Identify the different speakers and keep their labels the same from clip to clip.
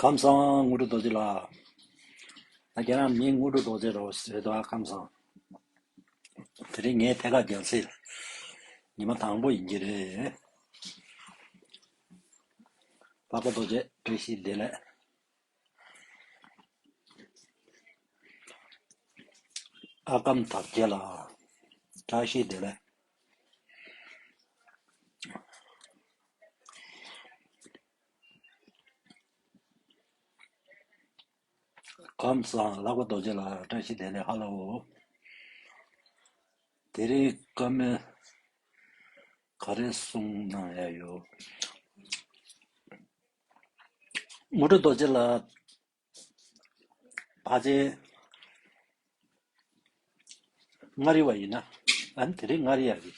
Speaker 1: ཁམས་བཟང་དངོས་གྲུབ་རྡོ་རྗེ་ལགས། རྒྱ་ནག་མིའི་དངོས་གྲུབ་རྡོ་རྗེ་རེད་ཟེར་འདུག་ཨ་ཁམས་བཟང། དེ་རིང་ངའི་ཐད་ཀར་རྒྱལ་སྲས་ཉི་མ་དང་པོ་ཡིན་གྱི་རེད། དཔའ་བོ་རྡོ་རྗེ་བཀྲ་ཤིས་བདེ་ལེགས། ཨ་གམ་དག་བྱེད་ལ། བཀྲ་ཤིས་བདེ་ལེགས། ཁམས་བཟང་ལགས་པ་རྡོ་རྗེ་ལགས་བཀྲ་ཤིས་བདེ་ལེགས་ཧ་ལ་བོ། དེ་རིང་བཀའ་མོལ་ག་རེ་གསུང་གནང་ཡ་ཡོད། མུ་ཏྲ་རྡོ་རྗེ་ལ། བ་ཅའི། མངའ་རིས་བ་ཡིན་ན། ཨཱ་དེ་རིང་མངའ་རིས་ཡག་གི།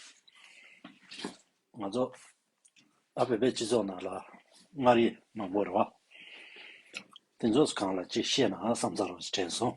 Speaker 1: ང་ཚོ། ཨ་བོད་པའི་སྤྱི་ཚོགས་ནང་ལ། མངའ་རིས་མང་པོ་རེད་བ། དེ་ཚོས་གང་ལ་ཅིག་བཤད་ནའང་བསམ་ཚར་རོ་ཞེས་དྲན་སོང།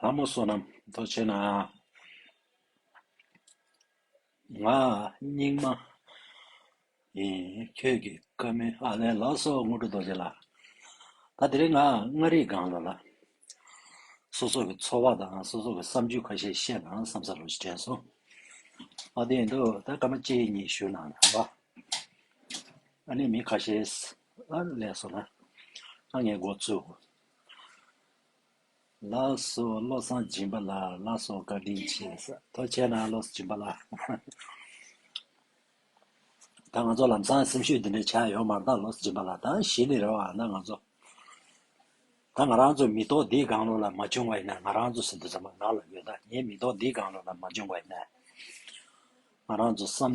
Speaker 1: ལྷ་མོ་བསོད་ནམས་རྡོ་རྗེ་ནག། ང་སྙིགས་མ་ཡིན་ཁྱོད་ཀྱི་བཀའ་མི་ཨ་ལས་ལགས་སོ་དངོས་གྲུབ་རྡོ་རྗེ་ལགས། ད་དེ་རིང་ང་མངའ་རིས་སྒང་ལ་ལགས། སོ་སོ་གི་འཚོ་བ་དང་སོ་སོ་གི་བསམ་ཇུས་ཁ་ཤས་བཤད་ན་བསམ་ས་རུ་དྲན་སོང། ཨ་དེ་ཡིན་དུས་ད་སྐར་མ་གཅིག་གཉིས་བཞུགས་གནང་ན་ལ། ཨ་ནེ་མི་ཁ་ཤེས། ཨ་ལས་སོ་ལ། ཨ་ངའི་སྒོ་ཚུགས། ལ་སོ་བློ་བཟང་སྦྱིན་པ་ལ་ལ་སོ་བཀའ་དྲིན་ཆེ། ཐོ་ཆེ་ན་བློ་བཟང་སྦྱིན་པ་ལ། ད་ང་ཚོ་ལམ་སང་སེམས་ཤུགས་འདི་འདྲ་ཆགས་ཡོད་མར་ད་བློ་བཟང་སྦྱིན་པ་ལ་ད་གཞི་ནས་རེ་བ་ན་ང་ཚོ་ད་ང་རང་ཚོ་མི་ཐོག་འདིའི་སྒང་ལོགས་ལ་མ་བྱུང་བ་ཡིན་ན་ང་རང་ཚོ་ཟིན་ཐོ་ཚང་མ་ནག་ལ་ཡོད་ད་ངའི་མི་ཐོག་འདིའི་སྒང་ལོགས་ལ་མ་བྱུང་བ་ཡིན་ན་ང་རང་ཚོ་བསམ།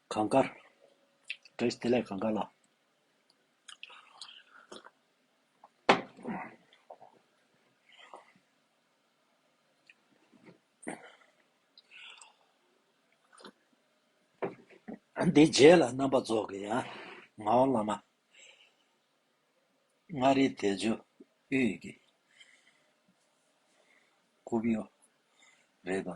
Speaker 1: གངས་དཀར། བྲེས་དེ་ལས་གངས་དཀར་ལ། འདི་རྗེས་ལ་རྣམ་པ་རྫོགས་ཀྱི་ཡང་ངའོ་བླ་མ། མངའ་རིས་དལ་འབྱོར་དབུས་ཀྱི་སྐུ་བོ་རེད་དོ།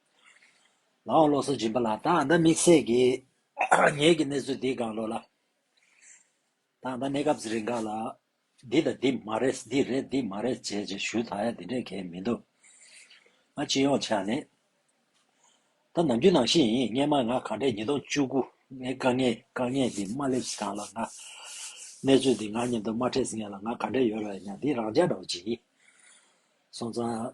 Speaker 1: ལའང་བློ་གསར་སྦྱིན་པ་ལ་དང་ད་དམིགས་བསལ་གྱི་ངེད་ཀྱི་གནས་ཚུལ་འདིའི་སྒང་ལོགས་ལ། དང་ད་གནས་སྐབས་རེ་འགའ་ལ། འདི་དང་འདི་མ་རེད་འདི་རེད་འདི་མ་རེད་བྱས་བྱས་ཞུ་དག་ཡ་འདི་འདྲས་གལ་མི་འདུག། ང་སྤྱི་ཡོངས་ཆ་ནས། ད་ནམ་རྒྱུན་ནང་བཞིན་ཡིན་སྙན་མ་ང་གང་དྲན་ཉིས་སྟོང་བཅུ་དགུ་ནས་དཀའ་ངལ་དཀའ་ངལ་འདི་མ་སླེབས་གང་ལ་ང། གནས་ཚུལ་འདི་ང་སྙམ་དུ་མ་ཁྲེས་ངན་ལ་ང་གང་དྲན་ཡོད་ར་ཡིན་ཡང་འདི་རང་ཅག་འདྲ་བ་ཅིག་ཡིན། སོང་ཙང།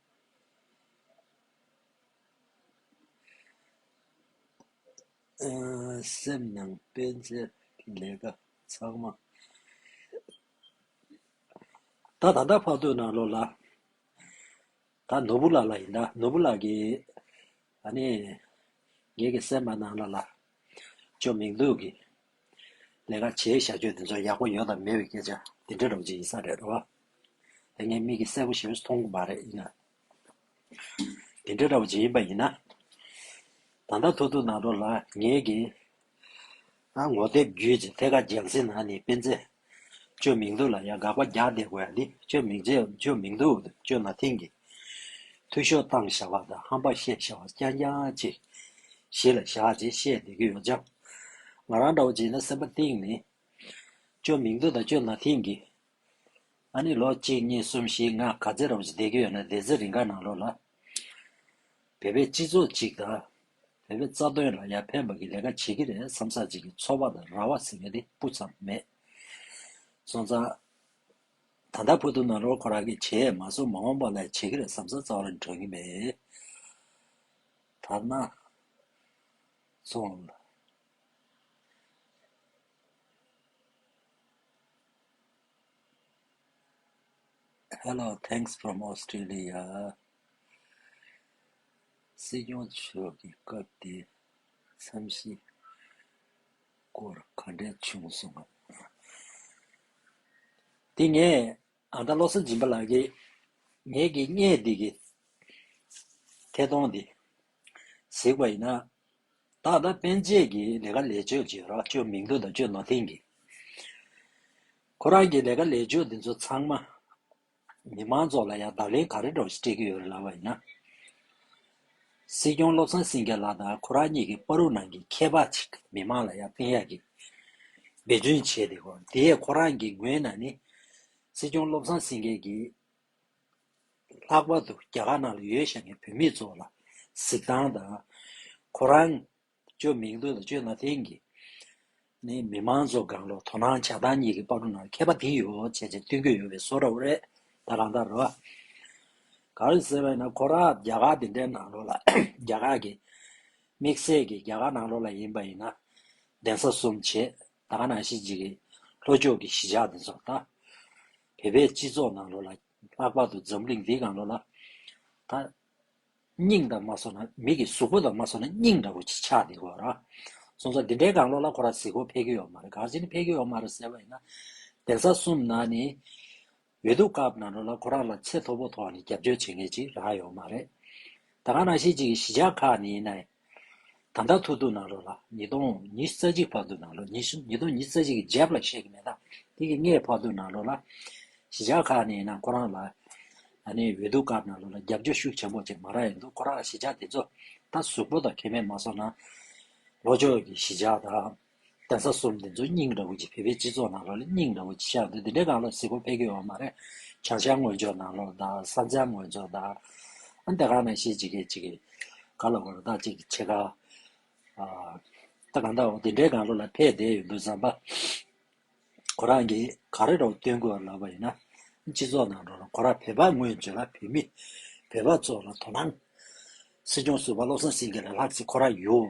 Speaker 1: སེམས་ནང་སྤེན་ཚེའི་ལས་ཀ་ཚང་མ་ད་ད་ལྟ་ཕག་སྟོད་ན་ལོ་ལ་ད་ནོར་བུ་ལགས་ལ་ཡིན་ད་ནོར་བུ་ལགས་ཀྱིས་ཨ་ནེ་ངེད་ཀྱི་སེམས་པ་ནང་ལ་ལ་ཅོ་མིང་ལུགས་ཀྱི་ལས་ཀ་བྱེད་བཞག་ཁྱོད་དེ་ཚོ་ཡག་པོ་ཡོད་དམ་མེད་པའི་སྐད་ཆ་དེ་འདྲ་སྒྲོག་ཅིག་ཡིན་ས་རེད་རོ། དེ་ངའི་མིག་གིས་གསལ་པོ་ཞེས་མཐོང་གི་མ་རེད་ཡིན་ན། དེ་འདྲ་འདྲ་བོ་ཅིག་ཡིན་པ་ཡིན་ན། ད་ལྟ་ཐུག་ཐུག་ནང་འགྲོ་ལ་ངེད་ཀྱིས་ངོ་དེབ་བརྒྱུད་ཅིག་ཐད་ཀར་རྒྱང་བསྲིངས་ན་ནི་སྤེན་ཚེ་བཅོས་མིང་འདུག་ལ་ཡང་དགག་པ་བརྒྱག་བསྡད་དགོས་ཡ་ནི་བཅོས་མིང་རྗེས་བཅོས་མིང་འདུག་བཅོས་ན་ཐིང་གི། འཐུས་ཤོག་བཏང་ཞེས་བ་དང་ཧམ་པ་བཤད་ཞེས་བ་རྐྱང་རྐྱང་ཅིག། གཞི་ལ་བཞག་ཅེས་བཤད་བསྡད་ཀྱི་ཡོད་ཀྱང། ང་རང་འདྲ་བོ་ཅིག་ལ་སེམས་པ་གཏིང་ནས། བཅོས་མིང་འདུག་དང་བཅོས་ན་ཐིང་གི། ཨ་ནི་ལོ་གཅིག་གཉིས་གསུམ་བཞི་ལྔ་ག་ཚད་ར་བོ་ཅིག་བསྡད་ཀྱི་ཡོད་ན་བསྡད་ཚེ་རི་འགའ་ནང་ལོགས་ལ། བོད་པའི་སྤྱི་ཚོགས་ཅིག་དང། བོད་པའི་རྩ་དོན་ལ་ཡར་ཕན་པ་གི་ལས་ཀ་བྱེད་ཀྱི་རེད་བསམ་ས་ཅིག་གི་འཚོ་བ་དང་ར་བ་ཟེར་བའི་དེ་སྤུ་ཙམ་མེད། སོང་ཙང། ད་ལྟ་བོད་དུ་ནང་ལོག་ཁོ་རང་གི་བྱས་མ་གསུམ་མ་འོངས་པ་ལ་བྱེད་ཀྱི་རེད་བསམ་ས་རྩ་བ་རང་གྲོལ་གྱི་མེད། དར་ནག། སོང། Hello thanks from Australia། སྲིད་སྐྱོང་མཆོག་གི་སྐབས་དེའི་འཚམས་གཞི་སྐོར་ག་འདྲའི་བྱུང་སོང་ངམ། དེ་ངས་ཨ་མདའ་བློ་བཟང་སྦྱིན་པ་ལགས་ཀྱིས་ངེད་ཀྱི་བརྙན་འདི་གི་ཐད་གཏོང་འདི་གཟིགས་པ་ཡིན་ན། ད་ལྟ་པན་ཆེད་ཀྱི་ལས་ཀ་ལས་ཆོད་ཅེས་རོགས་སྐྱོར་མིང་ཐོ་དང་བཅོས་ནོར་འཐེན་གྱིས། ཁོ་རང་གི་ལས་ཀ་ལས་ཆོད་འདི་ཚོ་ཚང་མ་མི་མང་ཚོགས་ལ་ཡང་བརྡ་ལན་ག་རེ་སྒྲོག་སྤྲད་ཀྱི་ཡོད་རེད་ལབ་པ་ཡིན་ན། སྲིད་སྐྱོང་བློ་བཟང་སེང་གེ་ལགས་དང་ཁོ་རང་གཉིས་ཀྱི་པར་རུ་ནང་གི་མཁས་པ་ཅིག་མི་མང་ལ་ཡང་བསྟན་ཡག་གི་འབད་བརྩོན་བྱས་ཏེ་གོ་དེས་ཁོ་རང་གི་ངོས་ནས་ནི། སྲིད་སྐྱོང་བློ་བཟང་སེང་གེ་གིས། ལྷག་པར་དུ་རྒྱ་གར་ནང་ལ་ཡོད་ཤག་གི་བོད་མི་ཚོ་ལ་གཟིགས་སྟངས་དང། ཁོ་རང། བཅོས་མིང་འདོན་དང་བཅོས་མ་འཐེན་གྱིས་ནི་མི་མང་གཙོ་སྒང་ལོག་དོ་སྣང་བྱ་སྟངས་གཉིས་ཀྱི་དཔར་རོ་ནང་མཁས་པ་དེ་ཡོ་བྱད་ཅིག་སྟོན་རྒྱུ་ཡོད་པའི་སོ་རབ་རེད་ད་རང་ལྟར་རོ། ག་རེ་ཟེར་བས་ན་ཁོ་རང་རྒྱ་གར་དེ་འདྲའི་ནང་ལོག་ལ་རྒྱ་གར་གྱི་དམིགས་བསལ་གྱིས་རྒྱ་གར་ནང་ལོག་ལ་ཡིན་པ་ཡིན་ན་གདན་ས་གསུམ་བྱེད་ད་ག་ནང་ཤི་འཇིག་གི་ལྷོ་ཕྱོགས་ཀྱི་གཞིས་ཆགས་དེ་ཚོར་ལྟ། བོད་པའི་སྤྱི་ཚོགས་ནང་ལོག་ལ་ལྷག་པར་དུ་འཛམ་གླིང་འདི་གང་ལོག་ལ་ད། སྙིང་དང་མ་སོགས་ན་མིག་གི་གཟུགས་པོ་དང་མ་སོགས་ན་སྙིང་འདྲ་པོ་ཆགས་འདི་གོ་ར། སོང་ཙང་འདི་འདྲའི་དགང་བློ་ལ་ཁོ་ར་གཟིགས་སྐོར་ཕལ་གྱི་ཡོག་མ་རེད་ག་ཅི་ནི་ཕལ་གྱི་ཡོག་མ་རེད་ཟེར་བ་ཡིན་ན། གདན་ས་གསུམ་ན་ནི། འོས་བསྡུ་སྐབས་ན་འགྲོ་ལ་ཁོ་རང་ལ་ཚད་མཐོ་པོ་ཐོག་ནས་རྒྱབ་སྐྱོར་བྱེད་མཁན་ཅིག་རག་ཡོག་མ་རེད། ད་ག་ན་ཤེས་ཅིག་གི་གཞི་ཆགས་ཁག་ནི་ཡིན་ན་ཡིན། ད་ལྟ་ཐོག་ཐུག་ནང་རོགས་ལ་ཉིས་སྟོང་ཉིས་རྩ་གཅིག་ཕག་ཐུག་ནང་རོགས་ཉིས་ཉིས་སྟོང་ཉིས་རྩ་གཅིག་གི་ཇེབ་ལ་ཤེས་ཀྱི་མེད་ད་ཐེངས་ཀྱི་ངའི་ཕག་ཐུག་ནང་རོགས་ལ་གཞིས་ཆགས་ཁག་ནས་ཡིན་ན་ཁོ་རང་ལ་ཨ་ནེ་འོས་ལྡུག་སྐབས་ནང་རོགས་ལ་རྒྱབ་སྐྱོར་ཤུགས་ཆེན་པོ་བྱེད་མ་རག་ཡོད་འདུག་ཁོ་རང་གཞིས་ཆགས་དེ་ཚོ་ད་གཟུགས་པོ་དང་ཁེ་ཕན་མ་སོགས་ནང་ལོ་ཅོག་གི་གཞིས་ཆགས་དང། གདན་ས་གསུམ་འདི་ཚོ་སྙིང་རེ་བོ་ཆེ་བོད་པའི་སྤྱི་ཚོགས་ནང་ལོགས་ལ་སྙིང་རེ་བོ་ཆེ་ཆགས་འདུག་འདི་འདྲའི་ནང་ལོགས་གཟིགས་སྐོར་ཕལ་གྱི་ཡོད་མ་རེད་བྱང་ཤར་དངོས་ཕྱོགས་ནང་ལོགས་དང་ས་མཚམས་དངོས་ཕྱོགས་དང་ཨ་འདི་གང་ནས་ཤེས་ཅི་དགེ་ཅི་དགེ་ག་ལ་དགོས་བདག་ཅིག་ཆེ་ཁ་ཨ་ད་གང་ལྟར་འོ་འདི་འདྲའི་ནང་ལོགས་ལ་ཕལ་བསྡད་ཡོད་འདུག་བསམ་པ་ཁོ་རང་གིས་ག་རེ་རོགས་སྟོན་དགོས་ལབ་པ་ཡིན་ན་སྤྱི་ཚོགས་ནང་ལོགས་ལ་ཁོ་རང་བོད་པ་དངོས་བྱོས་ལ་བོད་མི་བོད་པ་ཚོ་ལ་དོ་སྣང། སྲིད་སྐྱོང་ཟུར་པ་བློ་བཟང་སེང་གེ་ལ་ལྷག་བསམ་ཁོ་རང་ཡོད།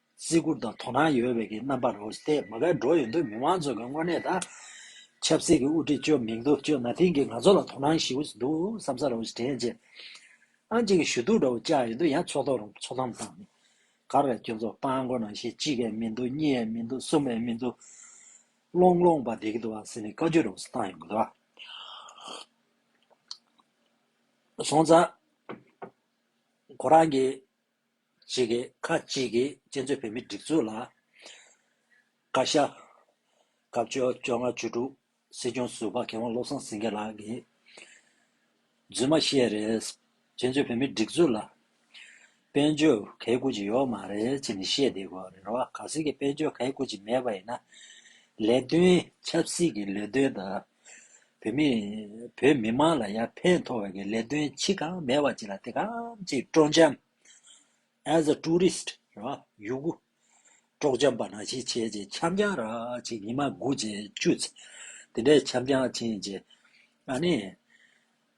Speaker 1: བརྩི་བཀུར་དང་དོ་སྣང་ཡོད་པའི་ཀྱི་རྣམ་པར་རོལ་ཏེ་མ་བསྒར་འགྲོ་ཡོད་འདུག་མི་མང་ཚོས་ཀྱི་དངོས་གནས་དང། ཆབ་སྲིད་ཀྱི་དབུ་ཁྲིད་བཅོས་མིང་དུ་བཅོས་ན་དེང་གི་ང་ཚོ་ལ་དོ་སྣང་ཞིག་འོས་འདུག་བསམ་ས་རོལ་དྲན་རྗེས། ཨང་གཅིག་གི་ཞུ་གཏུག་འདྲ་བོ་བཅག་ཡོད་འདུག་ཡང་ཚོགས་ཐོག་རུང་ཚོགས་གཏམ་དང། ག་རེ་ཁྱོད་ཚོ་སྤང་དགོས་ན་ཞེས་གཅིག་གས་མི་འདུག་གཉིས་ཡས་མི་འདུག་གསུམ་ཡས་མི་འདུག། བློང་བློང་བ་འདེགས་འདུག་ཟེར་ནས་བཀའ་བརྒྱུད་རུང་བཏང་ཡོང་གི་འདུག་སོང་ཙང། ཁོ་རང་གི། གཅིག་གིས་ཁ་གཅིག་གིས་གཅན་གཟན་བོད་མིའི་སྒྲིག་འཛུགས་ལ་བཀའ་ཤག། སྐབས་བཅོ་བཅོ་ལྔ་བཅུ་དྲུག་སྲིད་སྐྱོང་ཟུར་པ་མཁས་དབང་བློ་བཟང་སེང་གེ་ལགས་ཀྱིས། རྫུན་མ་བཤད་རེད། གཅན་གཟན་བོད་མིའི་སྒྲིག་འཛུགས་ལ། དཔལ་འབྱོར་གས་བཀུར་ཅིག་ཡོད་མ་རེད་ཅེས་ནས་བཤད་བསྡད་དགོས་རེད་རོ། ག་ཟེར་གྱི་དཔལ་འབྱོར་གས་བཀུར་ཅིག་མེད་པ་ཡིན་ན། ལས་དོན་ཆབ་སྲིད་ཀྱི་ལས་དོན་དང། བོད་མི་བོད་མི་དམངས་ལ་ཡར་འཕེལ་མཐོ་བ་གི་ལས་དོན་ཆི་གང་མེད་པ་ཅིག་ལ་དེ་གང་ཅིག་སྤྲོ་འཆམ as a tourist རེད་བ་ཡུ་གུ་སྤྲོག་འཆམ་པ་ན་ཞིག་བྱས་རྗེས་འཆམ་འཆམ་ར་ཅིག་ཉི་མ་དགུ་རྗེས་བཅུ་ཚེ་དེ་འདྲའི་འཆམ་འཆམ་བྱས་རྗེས་ཨ་ནི་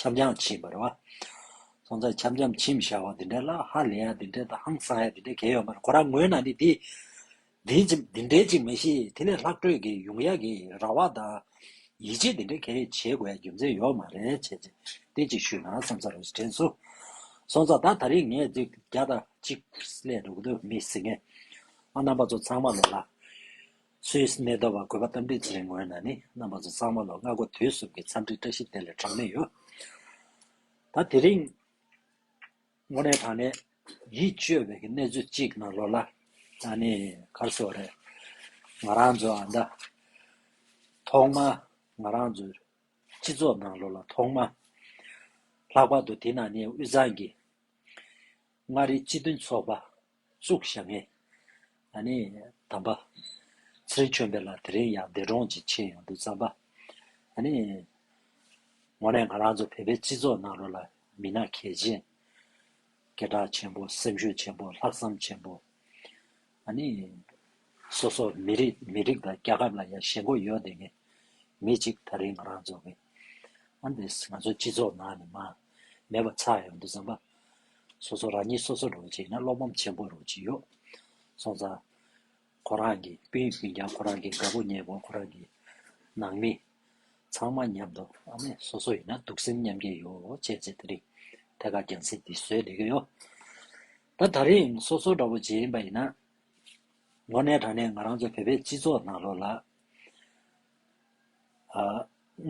Speaker 1: ཁྱབ་འཇམ་ཕྱིན་པར་བ། སོང་ཙང་ཁྱབ་འཇམ་ཕྱིན་བྱ་བ་འདི་འདྲ་ལ་ཧ་ལས་ཡ་འདི་འདྲ་དང་ཧང་སང་ཡ་འདི་འདྲ་གས་ཡོད་མ་རེད་ཁོ་རང་ངོས་ན་ནི་དེ་འདི་འདི་འདྲས་ཅིག་མ་ཤེས་དེ་ལས་ལྷག་སྤྲོད་ཀྱི་ཡོང་ཡ་གི་ར་བ་དང་ཡིད་ཆེས་འདི་འདྲ་གས་བྱེད་དགོས་ཡ་རྒྱུ་མཚན་ཡོད་མ་རེད་བྱས་ཚེ་དེ་ཅིག་ཞུས་ན་བསམ་ས་རེད་དྲན་སོ། སོང་ཙང་ད་ད་རིང་ངས་འདི་བརྒྱ་དང་གཅིག་ལས་འདུག་གདོད་མི་ཟེར་ངས་ཨ་རྣམ་པ་ཚོ་ཚང་མ་ལོ་ལ། ཚོའི་གནས་སྟོར་བར་དགོས་པ་གཏམ་འདྲི་བྱེད་རིང་ངོས་ན་ནི་རྣམ་པ་ཚོ་གཙང་མ་ལོ་སྔ་གོ་དུས་གསུམ་གྱི་འཚམས་འདྲིའི་བཀྲ་ཤིས་བདེ་ལེགས་གྲངས་མེད་ཡོད། ད་དེ་རིང་ངོ་ནས་དྲང་ནས་ཡིད་སྤྱོད་པའི་གནས་ཚུལ་གཅིག་ནང་ལོགས་ལ་ད་ནི་གར་བཟོ་རེད། ང་རང་ཚོ་ཨ་མདའ་ཐོག་མ་ང་རང་ཚོ་སྤྱི་ཚོགས་ནང་ལོགས་ལ་ཐོག་མ་ལྷག་པར་དུ་དེ་ནང་ནས་དབུས་གཙང་གི་མངའ་རིས་སྤྱི་མཐུན་ཚོགས་པ། གཙུག་བྱ་ངན། ད་ནི་དམ་པ། ཚེ་རིང་ཆོས་འཕེལ་ལ་དེ་རིང་ཡང་འདས་གྲོངས་ཀྱི་ཆེད་ཡོང་འདུག་བསམ་པ། ད་ནི། ངོ་ནས་ང་རང་ཚོ་བོད་པའི་སྤྱི་ཚོགས་ནང་རོ་ལ་མི་སྣ་གལ་ཆེན། སྐད་གྲགས་ཆེན་པོ་སེམས་ཤུགས་ཆེན་པོ་ལྷག་བསམ་ཆེན་པོ། ད་ནི། སོ་སོ་མི་རིགས་མི་རིགས་དང་རྒྱལ་ཁབ་ལ་ཡང་ཞེན་ཁོག་ཡོད་བསྡད་མཁན་མི་གཅིག་ད་རིང་ང་རང་ཚོ་གི་ཨ་འདི་ང་ཚོའི་སྤྱི་ཚོགས་ནང་ནས་མ་མེད་པ་ཆགས་ཡོང་དུས་བཟང་པ། སོ་སོ་རང་ཉིད་སོ་སོར་རོགས་བྱེད་ན་བློ་ཕམ་ཆེན་པོ་རོགས་བྱེད་ཡོད། སོང་ཙང། ཁོ་རང་གི་སྤུན་སྤུན་ཀྱང་ཁོ་རང་གི་དགའ་པོ་མྱེས་པོ་ཁོ་རང་གི་ནང་མི། ཚང་མ་མཉམ་དུ་ཨ་མས་སོ་སོ་ཡིན་ན་སྡུག་སེམས་མཉམ་སྐྱེ་ཡོད་བྱས་ཚེ་ད་རིང་ཐད་ཀར་རྒྱང་སྲིང་འདི་བཟོས་ལེ་གི་ཡོད། ད་ད་རིང་སོ་སོ་འདྲ་བོ་བྱེད་ཡིན་པ་ཡིན་ན། ངོ་ནས་དྲང་ནས་ང་རང་ཚོ་བོད་པའི་སྤྱི་ཚོགས་ནང་ལོག་ལ།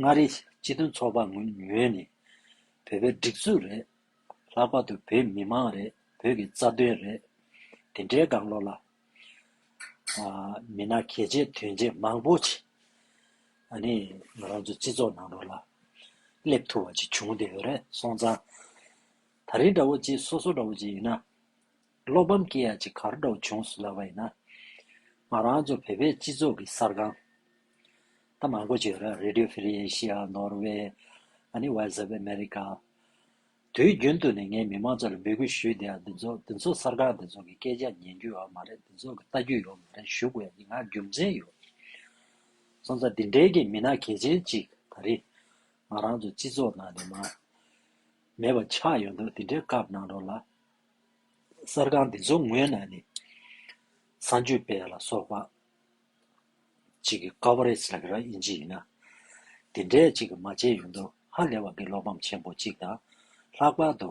Speaker 1: མངའ་རིས་སྤྱི་མཐུན་ཚོགས་པ་ངོས་ནས་བོད་པའི་སྒྲིག་འཛུགས་རེད། ལྷག་པར་དུ་བོད་མི་མང་རེད་བོད་ཀྱི་རྩ་དོན་རེད། དེ་འདྲའི་དགའ་བློ་ལ། མི་ནག་གལ་ཆེ་དོན་ཆེ་མང་པོ་ཆེ། ང་རང་ཚོའི་སྤྱི་ཚོགས་ནང་དུ་ལ་སླེབས་ཐུབ་པ་ཅིག་བྱུང་བདེ་བ་རེད་སོང་ཙང། ད་རིང་འདྲ་བོ་ཅིག་སོ་སོ་འདྲ་བོ་ཅིག་ཡིན་ན། བློ་ཕམ་སྐྱེ་ཡ་ཅིག་གར་འགྲོ་བྱུང་སུ་ལབ་པ་ཡིན་ན། ང་རང་ཚོ་བོད་པའི་སྤྱི་ཚོགས་ཀྱི་གསར་ཁང། ད་མང་པོ་བྱོས་ར Radio Free Asia། Norway། ཨ་ནི Voice of America། དུས་རྒྱུན་དུ་ནས་ངས་མི་མང་ཚོ་ལ་འབོད་སྐུལ་ཞུས་བསྡད་ཡ་འདི་ཚོ་འདི་ཚོ་གསར་ཁང་འདི་ཚོ་གི་སྐད་ཆ་ཉན་རྒྱུ་ཡོད་མ་རེད་འདི་ཚོ་གི་ལྟ་རྒྱུ་ཡོད་མ་རེད་ཞུ་དགོས་ཡ་འདི་ང་རྒྱུ་མཚན་ཡོད་སོང་ཙང་འདི་འདྲའི་གི་མི་སྣ་གལ་ཆེན་ཅིག་ད་རེས་ང་རང་ཚོ་སྤྱི་ཚོགས་ནང་ནས་མ་མེད་པ་ཆགས་ཡོད་འདུག་འདི་འདྲའི་སྐབས་ནང་རོ་ལ། གསར་ཁང་འདི་ཚོ་ངོས་ནས་ནི་ས་འཇུ་དཔལ་ལ་སོགས་པ་ཅིག་གི Coverage ལག་ར་ཨིན་ཇི་ཡིན་ན། དེ་འདྲའི་ཅིག་མ་བྱས་ཡོང་དུས་ཧ་ལས་བ་གི་བློ་ཕམ་ཆེན་པོ་ཅིག་དང། ལྷག་པར་དུ།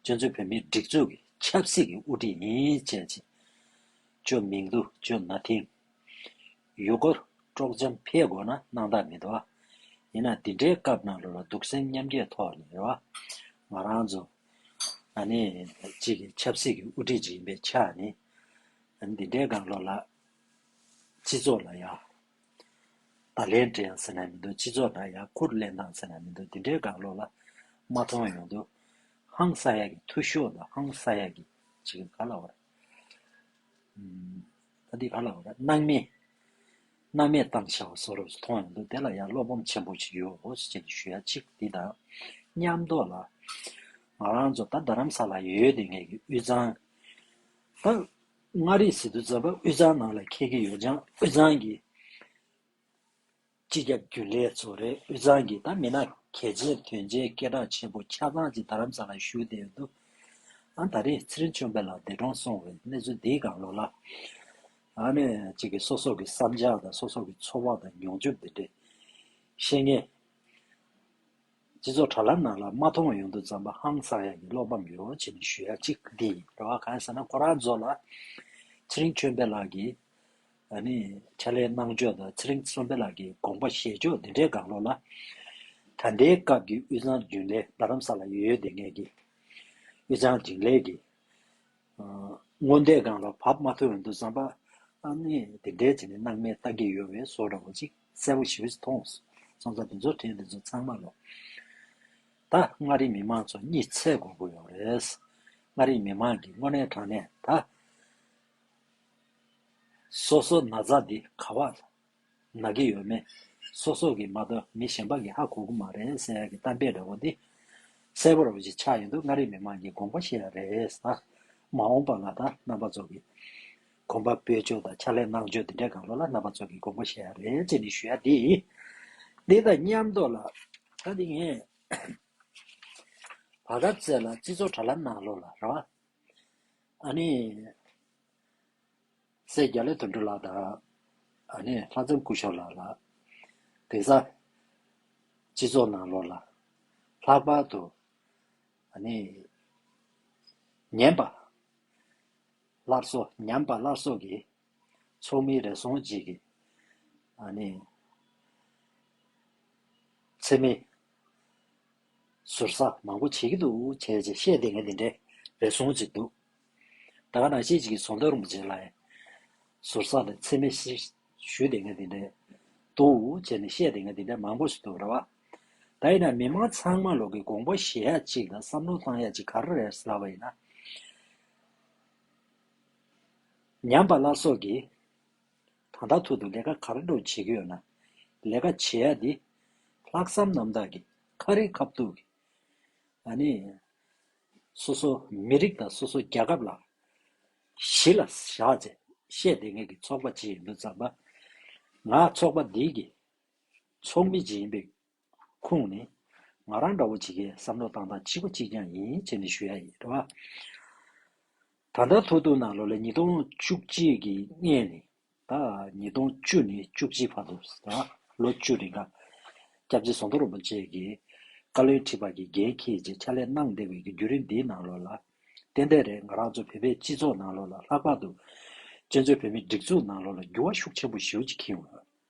Speaker 1: སྤྱོད་འཚོལ་བོད་མིའི་སྒྲིག་འཛུགས་ཀྱི་ཆབ་སྲིད་ཀྱི་དབུ་ཁྲིད་ཡིན་བཅས་ཅིག་བཅོས་མིང་དུ་བཅོས་ན་ཐིང། ཡུལ་སྐོར་དཀྲོག་འཛེམ་འཕེལ་དགོས་ན་གནང་ཐབས་མེད་དོ། ཡིན་ན་འདི་འདྲའི་སྐབས་ནང་ལོ་ལ་སྡུག་སེམས་མཉམ་སྐྱེ་ཐོག་ནས་རེ་བ། ང་རང་ཚོ་ང་ནི་གཅིག་གི་ཆབ་སྲིད་ཀྱི་དབུ་ཁྲིད་ཅིག་ཡིན་པའི་ཆ་ནས་འདི་འདྲའི་དགག་སློང་ལ། སྤྱི་ཚོགས་ལ་ཡང་བརྡ་ལན་སྤྲད་ཡང་ཟེར་ན་མི་འདུག་སྤྱི་ཚོགས་ལ་ཡང་ཁུར་གླེང་དང་ཟེར་ན་མི་འདུག་འདི་འདྲའི་དགག་སློང་ལ་མ་མཐོང་ཡོང་དུས་ཧང་སངས་ཡག་གི་ཐུགས་ཤོག་དང་ཧང་སངས་ཡག་གི་ཅིག་ག་ལ་བར། འདི་ག་ལ་འོས་པ་སྣང་མེད། སྣང་མེད་བཏང་བྱ་བ་སོགས་རབ་ཏུ་མཐོང་ཡང་འདུག་དེ་ལ་ཡང་བློ་སྒོམ་ཆེན་པོ་ཞིག་ཡོད་འོས་ཅན་དུ་ཞུ་ཡ་གཅིག་འདི་དང། ཉམས་རྟོགས་ལ། ང་རང་ཚོ་ད་རྡ་རམ་ས་ལ་ཡོད་དེ་ངེད་ཀྱི་དབུས་གཙང། ད། མངའ་རིས་སི་ཏུ་རྫ་པ་དབུས་གཙང་ནང་ལ་ཁེལ་གྱི་ཡོད་ཅིང་དབུས་གཙང་གི། སྤྱི་ཁྱབ་རྒྱུན་ལས་གཙོ་རེ་དབུས་གཙང་གི་ད་མི་ན་གལ་ཆེ་དོན་ཆེ་སྐད་གྲགས་ཆེ་པོ་ཆ་ཚང་གཅིག་རྡ་རམ་ས་ལ་བཞུགས་བསྡད་ཡོད་འདུག་ཨང་ད་རེས་ཚེ་རིང་ཆོས་འཕེལ་ལགས་འདས་གྲོངས་སོང་བའི་གནས་ཚུལ་འདིའི་སྒང་ལོགས་ལ། ཨ་ནེ་གཅིག་གི་སོ་སོགས་ཀྱི་བསམ་འཆར་དང་སོ་སོགས་ཀྱི་ཚོར་བ་དང་མྱོང་འཇུག་འདི་འདྲས་ཤེས་ངེས། སྤྱི་ཚོགས་དྲ་ལམ་ནང་ལ་མ་མཐོང་བ་ཡོང་འདུག་ཙམ་པ་ཧང་སང་ཡག་གི་བློ་ཕམ་ཡོད་བ་བྱས་ནས་ཞུ་ཡག་གཅིག་འདི་ཡིན་རེད་བ་གང་ཟེར་ན་ཁོ་རང་ཚོ་ལ་ཚེ་རིང་ཆོས་འཕེལ་ལགས་ཀྱིས་ད་ནི་ཕྱྭ་ལའི་གནང་ཕྱོགས་དང་ཚེ་རིང་བསོད་འཕེལ་ལགས་ཀྱི་དགོངས་པ་བཞེས་ཕྱོགས་འདི་འདྲའི་དགག་བློ་ལ། ད་ལྟའི་སྐབས་ཀྱི་དབུས་གཙང་རྒྱུན་ལས་རྡ་རམ་ས་ལ་ཡོད་ཡོད་བསྡད་ངེས་ཀྱི། དབུས་གཙང་དྲིན་ལས་ཀྱི། སྔོན་བསྡད་སྒང་ལ་བབས་མ་ཐུབ་འོན་ཏུ་བསམ་པ། ཨ་ནི་དེ་འདྲའི་བྱས་ནས་སྣང་མེད་བལྟ་གི་ཡོད་བས་བཟོ་འདྲ་བོ་ཅིག་གསལ་བོ་ཞིག་མཐོང། སོང་ཙང་དེ་ཚོ་དྲན་དེ་ཚོ་ཚང་མ་ལོ། ད་མངའ་རིས་མི་མང་ཚོ་གཉིད་ཚད་དགོས་དགོས་ཡོད་རེད། མངའ་རིས་མི་མང་གིས་དངོས་གནས་དྲང་གནས་ད། སོ་སོ་ན་ཚ་འདི་ག་བ་ན་གི་ཡོད་མེད་སོ་སོ་གི་མ་གཏོགས་མི་གཞན་པ་གི་ཧ་གོ་གི་མ་རེད་ཟེར་ཡག་གི་གཏམ་དཔེ་འདྲ་བོ་འདི་གསལ་པོར་འོས་ཅི་ཆགས་ཡོད་འདུག་མངའ་རིས་མི་དམངས་ཀྱི་དགོངས་པ་ཤེས་ཡག་རེད་ཟ། མ་འོངས་པ་ང་དང་རྣམ་པ་ཚོ་གི་གོམ་པ་སྤོས་ཕྱོད་དང་ཕྱག་ལས་གནང་ཕྱོད་འདི་འདྲའི་དགའ་བློ་ལ་རྣམ་པ་ཚོ་གི་དགོངས་པ་ཤེས་ཡག་རེད་ཅེས་ནི་ཞུ་ཡག་འདི་འདི་དང་མཉམ་དུ་ལ་ད་འདི་ངས་བར་སྐབས་བརྩད་ལ་སྤྱི་ཚོགས་དྲ་ལམ་ནང་ལོག་ལ་ར་བ། ཨཱ་ནི། སྲས་རྒྱ་ལས་དོན་གྲུབ་ལགས་དང། ཨཱ་ནི། ལྷ་ཚང་སྐུ་ཞབས་ལགས་ལ། དེང་སང། སྤྱི་ཚོགས་ནང་ལོགས་ལ། ལྷག་པར་དུ། ཨཱ་ནི། ཉན་པ། སླར་གསོ་ཉམས་པ་སླར་གསོ་གི། ཚོགས་མི་རེ་ཟུང་ཅིག་གིས། ཨཱ་ནི། འཚེ་མེད། ཟུར་ཟ་མང་པོ་བྱེད་ཀྱི་འདུག་བྱས་རྗེས་བཤད་དེ་ངས་དེ་འདྲའི་རེ་ཟུང་ཅིག་འདུག་ད་ག་ནང་ཤེས་ཅིག་གིས་ཟོ་འདོད་རུང་པོ་བྱེད་ལ། ཟུར་ཟ་དེ་འཚེ་མེད་ཞིག་ཞུས་དེ་ངས་དེ་འདྲའི་འདུག་བྱས་ནས་བཤད་དེ་ངས་དེ་འདྲའི་མང་པོ་ཞིག་འདུག་རེད་བ། ད་ཡིན་ན་མི་མང་ཚང་མ་ལོག་གི་དགོངས་པ་བཞེས་ཡག་ཅིག་དང་བསམ་བློ་བཏང་ཡག་ཅིག་ག་རེ་རེད་ཟེར་བ་ཡིན་ན། ཉམས་པ་ལ་སོགས་ཀྱིས། ད་ལྟ་ཐུག་ཏུ་ལས་ཀ་ག་རེ་འགྲོ་བྱེད་ཀྱི་ཡོད་ན། ལས་ཀ་བྱེད་ཡ་དེ། ལྷག་བསམ་རྣམ་དག་གིས་ཁ་རི་ཁ་ཐུག་གིས། ཨ་ནི། སོ་སོ་མི་རིགས་དང་སོ་སོ་རྒྱལ་ཁབ་ལ། གཞི་ལ་བཞག་ཚེ་ཤེས་ལྡན་ངེད་ཀྱི་ཚོགས་པ་ཇི་ཡིན་མི་བརྩམས་པ། ང་ཚོགས་པ་འདིའི་གི། ཚོགས་མི་ཇི་ཡིན་པའི་ཁོང་ནི། ང་རང་འདྲ་བོ་བྱེད་མཁན་བསམ་བློ་བཏང་སྟངས་གཅིག་པ་གཅིག་རྐྱང་ཡིན་བྱས་ནས་ཞུ་ཡ་ཡིན། རེད་བ། ད་ལྟ་ཐོག་ཐུག་ནང་ལོ་ལེ་ཉིས་སྟོང་བཅུ་གཅིག་གི་ལྔས་ནས་ད་ཉིས་སྟོང་བཅུ་ནས་བཅུ་གཅིག་བར་དུ་རེད་བ། ལོ་བཅུ་རེ་འགའ། སྐྱབས་རྗེ་ཟོང་དོ་རིན་པོ་ཆེ་གིས། བཀའ་བློན་ཁྲི་པ་གི་འགན་ཁྱེད་ཀྱིས་ཕྱག་ལས་གནང་བདེ་བའི་གི་རྒྱུ་རིན་འདིའི་ནང་ལོ་ལ། ཏན་ཏན་རེད་ང་རང་ཚོ་བོད་པའི་སྤྱི་ཚོགས་ནང་ལོ་ལ་ལྷག་པར་དུ། གཅན་ཚོད་བོད་མི་སྒྲིག་འཛུགས་ནང་ལོ་ལ་འགྱུར་བ་ཤུགས་ཆེན་པོ་ཞིའུ་ཅི་ཁིའུ།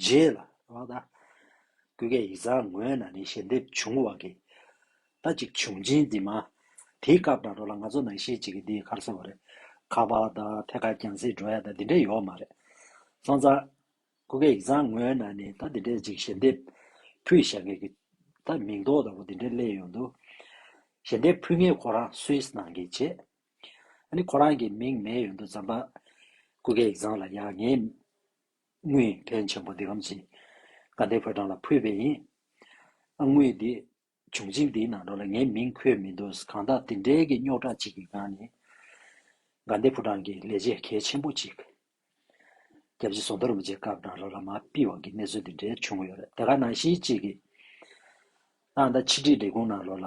Speaker 1: རྗེས་ལ། བ་ད། ཀུན་དགའི་ཡིད་བཟང་ངོས་ན་ནི་ཞལ་འདེབས་བྱུང་བ་གིས། ད་ཅིག་བྱུང་སྦྱིན་འདི་མ། དེའི་སྐབས་དང་འགྲོ་ལ་ང་ཚོ་ནང་བཞིན་ཅིག་གིས་འདི་གར་སོང་བ་རེད། ཁ་བ་ད། ཐད་ཀར་ཀྱང་སྲིད་འགྲོ་ཡ་ད་འདི་འདྲས་ཡོག་མ་རེད། སོང་ཙང། ཀུན་དགའི་ཡིད་བཟང་ངོས་ན་ནི་ད་འདི་འདྲས་ཅིག་ཞལ་འདེབས། ཕུལ་ཞེས་ངེད་ཀྱི། ད་མིང་འདོགས་ལྟ་བུ་འདི་འདྲས་གླས་ཡོང་འདུག། ཞལ་འདེབས་ཕུལ་མཁན་ཁོ་རང Swiss ནང་གི་བྱེད། ཨ་ནི་ཁོ་རང་གི་མིང་མེད་ཡོང་འདུག་ཛམྦ། ཀུན་དགའི་ཡིད་བཟང་ལ་ཡང་ངས། དངུལ་ཕལ་ཆེན་པོ་འདི་ཁམས་ཀྱི་དགའ་ལྡན་ཕོ་བྲང་ལ་ཕུལ་བས་ཡིན། དངུལ་འདི་བྱུང་རྗེས་འདིའི་ནང་དོན་ལ་ངའི་མིང་འཁོད་མི་འདུག་གང་དག་དེ་འབྲེལ་གྱི་རྙོག་དྲ་ཅིག་གི་སྒང་ནས། དགའ་ལྡན་ཕོ་བྲང་གིས་ལས་བྱེད་གལ་ཆེན་པོ་གཅིག་རྒྱལ་སྤྱིའི་བཟོ་འདོར་མི་བྱེད་སྐབས་དང་རོ་ལ་མ་དཔིལ་བ་གི་གནས་ཚུལ་འདི་འདྲའི་བྱུང་ཡོད་རེད་དེ་ག་ནང་བཞིན་གཅིག་གིས་ཏང་དང་ཕྱི་དྲིལ་ལས་ཁུངས་ནང་རོ་ལ་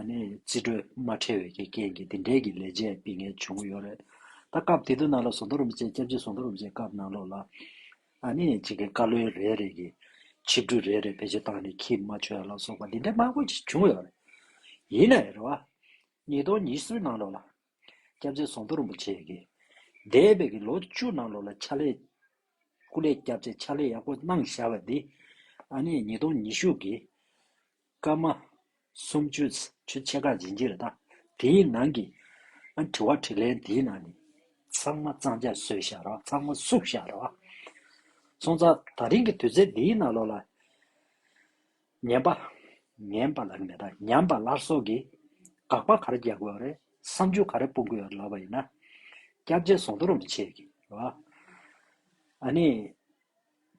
Speaker 1: རྩིས་སྤྲོད་མ་ཁྲལ་བས་ཀྱི་རྐྱེན་གྱིས་འདི་འདྲའི་གྱི་ལས་བྱེད་སྤི་ངལ་བྱུང་གི་ཡོད་རེད་ད། སྐབས་དེ་དུས་ནང་ལ་ཟོ་མདོ་རུམ་བཅས་སྐྱབས་རྗེ་ཟོ་མདོ་རུམ་བཅས་སྐབས་ནང་ལོག་ལ། གཅིག་གི་བཀའ་བློན་རེ་རེ་གྱི་ཆིབས་སྒྲུས་རེ་རེ་བེད་སྤྱོད་བཏང་ནས་ཁྱི་མ་ཆོས་ལ་སོགས་པ་འདི་འདྲའི་མང་པོ་ཞིག་བྱུང་ཡོད་རེད། ཡིན་ནའི་རེད་བ། ཉིས་སྟོང་ཉིས་གསུམ་ནང་ལོག་ལ། སྐྱབས་རྗེ་ཟོ་མདོ་རུམ་བཅས་ཀྱི། འདས་པའི་གྱི་ལོ་བཅུ་ནང་ལོག་ལ་ཕྱག་ལས། སྐུ་ལས་བསྐྱབས་བཅས་ཕྱག་ལས་ཡག་པོ་གནང་བཞག་པ་འདི། ཉིས་སྟོང་ཉི་ཤུ་གྱི། སྐར་མ། སུམ་བཅུ། ཆུ་ཕྱེད་ཀར་འབྱིན་གྱིས་ལ་བལྟ། དེའི་ནང་གི། དྲི་བ་དྲིས་ལན་འདིའི་ནང་ནས། ཚང་མ་གཙང་ཆ་བཟོས་ཤག་རོགས་ཚང་མ་བསུབ་ཤག་རོགས། སོང་ཙང་ད་རིང་གི་དུས་ཚོད་འདིའི་ནང་ལོག་ལ། ཉན་པ། ཉན་པ་ལགས་མེད་ད་ཉམས་པ་ལར་སོགས་ཀྱི། དགག་པ་ག་རེ་རྒྱག་དགོས་རེད་བསམ་ཚུལ་ག་རེ་སྤུངས་དགོས་ལབ་པ་ཡིན་ན། སྐྱབས་རྗེ་ཟོང་དོ་རུང་བྱེད། ཨ་ནི།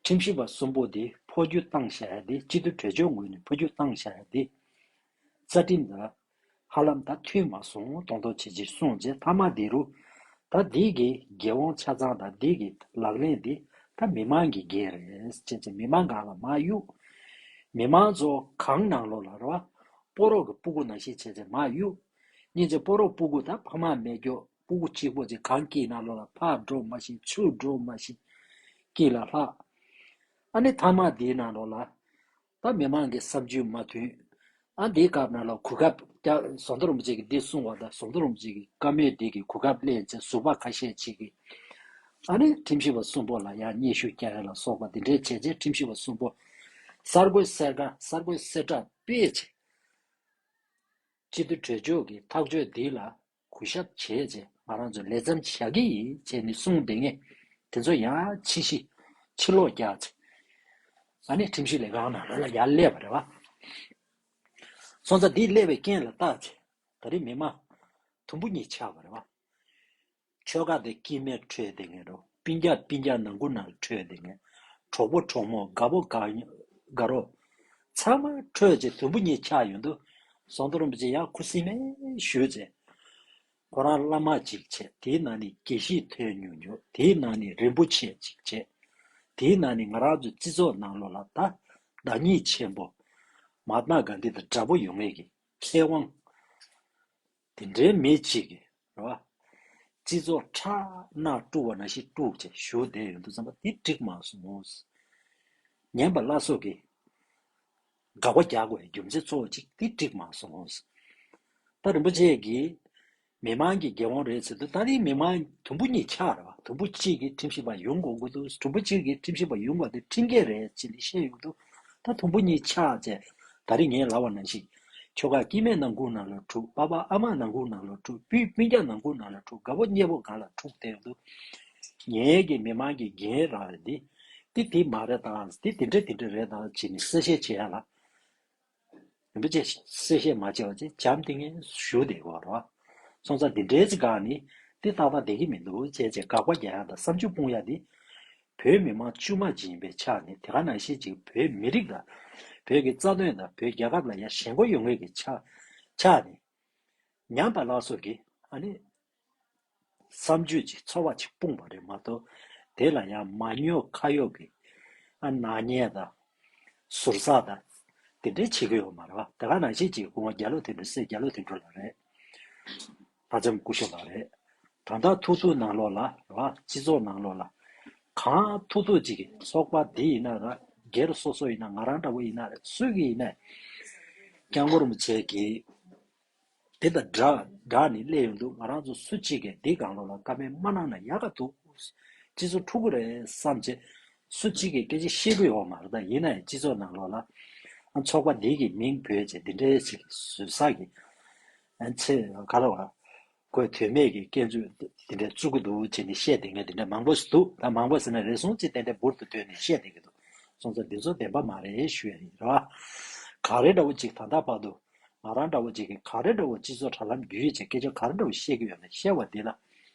Speaker 1: ཁྲིམས་ཞིབ་པ་གསུམ་པོ་དེ་འཕོ་རྒྱུ་བཏང་བྱ་ཡ་དེ་སྤྱི་འཐུས་གྲོས་ཆོད་ངོས་ནས་འཕོ་རྒྱུ་བཏང་བྱ་ཡ་དེ། རྩ་ཁྲིམས་དང། ཧ་ལམ་ད་མཐུན་མ་སོང་གདོང་ཐོག་བྱེད་ཅིག་གསུངས་རྗེས་མཐའ་མ་དེ་རུ། ད་འདི་གི་འགན་དབང་ཆ་ཚང་དང་འདི་གི་ལག་ལེན་དེ་ད་མི་མང་གི་འགན་རེད་ཅེས་ཅེས་མི་མང་གང་ལ་མ་གཡུག། མི་མང་ཚོ་གང་ནང་ལོག་ལ་རོ། སྤོ་རོག་གི་སྤུ་གུ་ན་ཤི་བྱས་ཅེས་མ་གཡུག། གཉིས་ཅེས་སྤོ་རོག་སྤུ་གུ་ད་ཕ་མ་མེད་སྐྱོ། སྤུ་གུ་གཅིག་པོ་ཅིག་གང་སྐྱེས་ན་ལོ་ལ་ཕག་སྒྲོ་མ་བཞིན་ཆུ་སྒྲོ་མ་བཞིན་སྐྱེས་ལ་ལྷག། ཨ་ནི་ཐ་མ་དེའི་ནང་ལོ་ལ། ད་མི་མང་གི་བསམ་རྒྱུས་མ་མཐུན། ཨ་འདིའི་སྐབས་ན་ལོ་གུ་གབ་སྐྱག་ཟོ་མདོ་རུམ་ཅིག་གིས་འདི་གསུང་བ་དང་ཟོ་མདོ་རུམ་ཅིག་གིས་དཀར་མོའི་སྡེ་གི་གུ་གབ་གླེང་ཚེ་ཟུར་པ་ཁ་ཤས་ཅིག་གིས། ཨ་ནི་ཁྲིམས་ཞིབ་པ་གསུམ་པོ་ལ་ཡང་སྙན་ཞུ་རྒྱག་ཡ་ལ་སོགས་པ་འདི་འདྲའི་བྱས་རྗེས་ཁྲིམས་ཞིབ་པ་གསུམ་པོ་གསར་འགོད་གསེར་རྐ་གསར་འགོད་གསེར་བཀྲ་དཔེ་ཆེ། སྤྱི་འཐུས་གྲོས་མཆོག་གིས་ཐག་གཅོད་འདི་ལ་གུ་ཞབས་བྱེད་ཅེས་ང་རང་ཚོས་ལས་བརྩམས་བཞག་གི་ཡིན་ཅེས་ནི་གསུངས་བསྡད་ངེས། དེ་ཚོ་ཡང་ཕྱི་གཞི། ཕྱི་ལོག་རྒྱག་ཅིང། ང་ནི་ཁྲིམས་ཞིབ་ལས་ཁང་ནང་ལོ་ལ་ཡར་སླེབས་པ་རེད་བ། སོང་ཙང་འདིར་སླེབས་པའི་རྐྱེན་ལ་བརྟགས་ཚེ་ད་རེས་མི་དམངས། དུམ་བུ་གཉིས་ཆགས་པ་རེད་བ། ཆོལ་ཁ་དེ་སྐྱིད་མེར་འཁྲོལ་བསྡད་ངེས་རོ་སྤིན་རྒྱག་སྤིན་རྒྱག་ནང་ཁུ་ནང་འཁྲོལ་བསྡད་ངེས། གྲོགས་པོ་གྲོགས་མོ་དགའ་བོ་དགའ་རོགས། ཚང་མ་ཁྲོས་བྱེད་དུམ་བུ་གཉིས་ཆགས་ཡོད་འདུག་ཟོང་དུ་རིན་པོ་ཆེ་ཡང་ཁུ་སིམ་མེར་བཞུད་ཚེ། ཁོ་རང་བླ་མ་ཅིག་བྱས་དེའི་ནང་ནས་དགེ་བཤེས་ཐོན་ཉུང་ཉུང་དེའི་ནང་ནས་རིན་པོ་ཆེ་ཅིག་བྱས། དེའི་ནང་ནས་ང་རང་ཚོའི་བརྩི་ཚོགས་ནང་ལོགས་ལ་ད་བདག་ཉིད་ཆེན་པོ། མ་ཏཱ་གཱ་འདི་དང་འདྲ་པོ་ཡོང་ངེས་ཀྱི་ཁེ་དབང། དེ་འདྲའི་མི་གཅིག་གིས་རེད་བ། སྤྱི་ཚོགས་ཁྲག་སྣག་དཀྲུགས་བ་ན་ཤི་དཀྲུགས་བྱས་བཞུགས་བསྡད་ཡོད་འདུག་བསམ་པ་དེ་འགྲིག་མ་སོང་ངོ། ངན་པ་བླ་སྲོག་གིས་དགག་པ་རྒྱག་བའི་རྒྱུ་མཚན་གཙོ་བོ་གཅིག་དེ་འགྲིག་མ་སོང་ངོ། ད་རིན་པོ་ཆེ་གིས་མི་མང་གི་དགེ་དབང་རེད་ཟེར་དུས་ད་རིང་མི་མང་དུམ་བུ་གཉིས་ཆགས་རེད་བ་དུམ་བུ་གཅིག་གིས་ཁྲིམས་ཞིབ་པ་ཡོང་དགོས་དགོས་འདུག་དུམ་བུ་གཅིག་གིས་ཁྲིམས་ཞིབ་པ་ཡོང་དགོས་དེ་ཁྲིམས་འགལ་རེད་ཅེས་ནས་བཤད་ཡོང་འདུག་ད་དུམ་བུ་གཉིས་ཆགས་ཚེ་ད་རེས་ངས་ལབ་བ་ནང་བཞིན། ཁྱོ་ག་སྐྱིད་སྨད་ནང་སྒུག་ནང་ལ་འཁྲུག་པ་པ་ཨ་མ་ནང་སྒུག་ནང་ལ་འཁྲུག་སྤུན་སྤུན་སྐྱ་ནང་སྒུག་ནང་ལ་འཁྲུག་དགའ་བོ་མཉེས་པོ་གང་ལ་འཁྲུག་བསྡད་ཡོང་དུས། ངའི་གི་མི་མང་གི་རྒན་ར་བ་འདི། འདི་དེ་མ་རེད་དམ་འདི་དེ་འདྲ་དེ་འདྲ་རེད་དམ་བྱས་ནས་གསལ་བཤད་བྱེད་ཡ་ལ། རིན་པོ་ཆེ་གསལ་བཤད་མ་བྱས་བ་ཅེས་བྱམས་ཏེ་ངའི་ཞུ་བདེ་གོ་ར་བ། སོང་ཙང་འདི་འདྲའི་ཚིག་འགའ་ནི། འདི་ཏག་ཏག་བདེ་གི་མི་འདུག་བྱས་བྱས་དགག་པ་བརྒྱ་ཡ་དང་བསམ་བཅུ་སྤུངས་ཡ་འདི། བོད་མི་མང་དཀྱུས་མ་ཇི་ཡིན་པའི་ཆ་ནས་དེ་ག་ནང་བཞིན་གྱི་བོད་མི་རིགས་དང། བོད་ཀྱི་རྩ་དོན་དང་བོད་རྒྱལ་ཁབ་ལ་ཡར་ཞེན་སྒོ་ཡོད་ངེས་ཀྱི་ཆ་ནས། ཉམས་པ་ལགས་སོགས་ཀྱིས་ཨ་ནི། བསམ་སྤྱོད་ཅིག་ཚོར་བ་ཅིག་སྤུངས་པ་རེད་མ་གཏོགས། དེ་ལ་ཡང་མ་ཉོ་ཁ་གཡོག་གིས། ཨ་ནག་ཉེས་དང། ཟུར་ཟ་དང། དེ་འདྲའི་བྱེད་ཀྱི་ཡོད་མ་རེད་བ། དེ་ག་ནང་བཞིན་གྱི་སྐུ་ངོ་རྒྱ་ལོ་དེ་འདྲ་སེ་རྒྱ་ལོ་དེ་འདྲ་ལ་རེད། ལྷ་ལྕམ་སྐུ་ཞབས་ལགས་རེད། གང་དག་ཐུགས་རྩོད་ནང་ལོག་ལ་ལ་སྤྱི་ཚོགས་ནང་ལོག་ལ། གང་ཐུགས་རྩོད་ཅིག་གིས་སོག་པ་འདི་ཡིན་ན་ར་སྒེར་སོ་སོ་ཡིན་ན་ང་རང་འདྲ་བོ་ཡིན་ན་རེད་སུས་གི་ཡིན་ནས་ཀྱང་ངོར་མི་བྱེད་གི། དེ་དང་སྒྲ་སྒྲ་ནི་གླས་ཡོང་འདུག་ང་རང་ཚོ་སུ་གཅིག་གིས་འདི་གང་ལོག་ལ་ཀ་མེད་མ་གནང་ན་ཡག་ག་འདུག་སྤྱི་ཚོགས་འཁྲུག་གི་རེད་བསམ་བྱེད། སུ་གཅིག་གིས་སྐད་ཆ་བཤད་གི་ཡོག་མ་རེད་ད་ཡིན་ན་ཡང་སྤྱི་ཚོགས་ནང་ལོག་ལ། ཚོགས་པ་འདི་གི་མིང་བོད་ཅེས་འདི་འདྲའི་ཞིག་གིས་བཟོས་ས་གིས། ཨ་ཚེ་ག་ལ་བ། ཁོས་དོན་མེད་ཀྱི་སྐྱེལ་རྩོད་དེ་འདྲ་བཙུགས་ཀྱི་འདུག་ཅེས་ནི་བཤད་བསྡད་མཁན་དེ་འདྲ་མང་པོ་ཞིག་འདུག་ད་མང་པོ་ཟེར་ན་རེ་ཟུང་གཅིག་ཏན་ཏན་འབུར་དུ་དོན་ནི་བཤད་བསྡད་ཀྱི་འདུག་སོང་ཙང་འདི་ཚོ་བདེན་པ་མ་རེད་ཞུ་ཡ་ཡིན། གངས་རི་འདྲ་བོ་གཅིག་ད་ད་བར་དུ། ང་རང་འདྲ་བོ་གཅིག་གིས་གངས་རི་འདྲ་བོ་སྤྱི་ཚོགས་དྲ་ལམ་བརྒྱུད་ཡོད་ཅེས་སྐད་ཆ་ག་རེ་འདྲ་བོ་བཤད་ཀྱི་ཡོད་ན་བཤད་བ་འདི་ལ།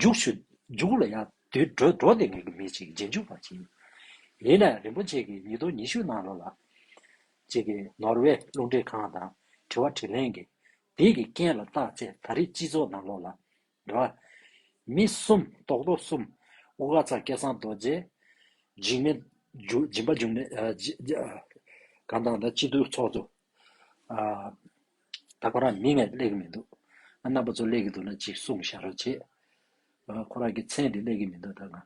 Speaker 1: འཇུག། འཇུག་ལ་ཡང་དུད་འགྲོ་འགྲོ་དེ་ངེས་ཀྱི་མེད་ཅིག་རྗེས་འཇུག་པར་བགྱིའོ། ཡིན་ནའི་རིན་པོ་ཆེ་གི་ཉིས་སྟོང་ཉི་ཤུ་གནང་རོགས་ལགས། ཅེས་ཀྱི་ནོར་ཝེ་རླུང་འཕྲིན་ཁང་དང་དྲི་བ་དྲིས་ལན་གྱི་དེ་གི་རྐྱེན་ལ་བརྟགས་ཚེ་ད་རེས་སྤྱི་ཚོགས་ནང་ལོག་ལ། ར། མི་གསུམ་རྟོག་རྡོ་གསུམ། དབུ་ཁ་ཚར་སྐལ་བཟང་རྡོ་རྗེ། འཇིགས་མེད། སྦྱིན་པ་འཇུག་མེད། གང་དང་ད་སྤྱི་འཐུས་ཚོགས་གཙོ། ད་ཁོ་རང་མི་ངས་གླས་ཀྱི་མི་འདུག་ང་རྣམ་པ་ཚོ་གླས་ཀྱི་འདུག་ན་ཅིག་གསུངས་ཤག་རོགས་བྱེད། ཁོ་རང་གི་མཚན་དེ་གླས་ཀྱི་མི་འདུག་ད་ང།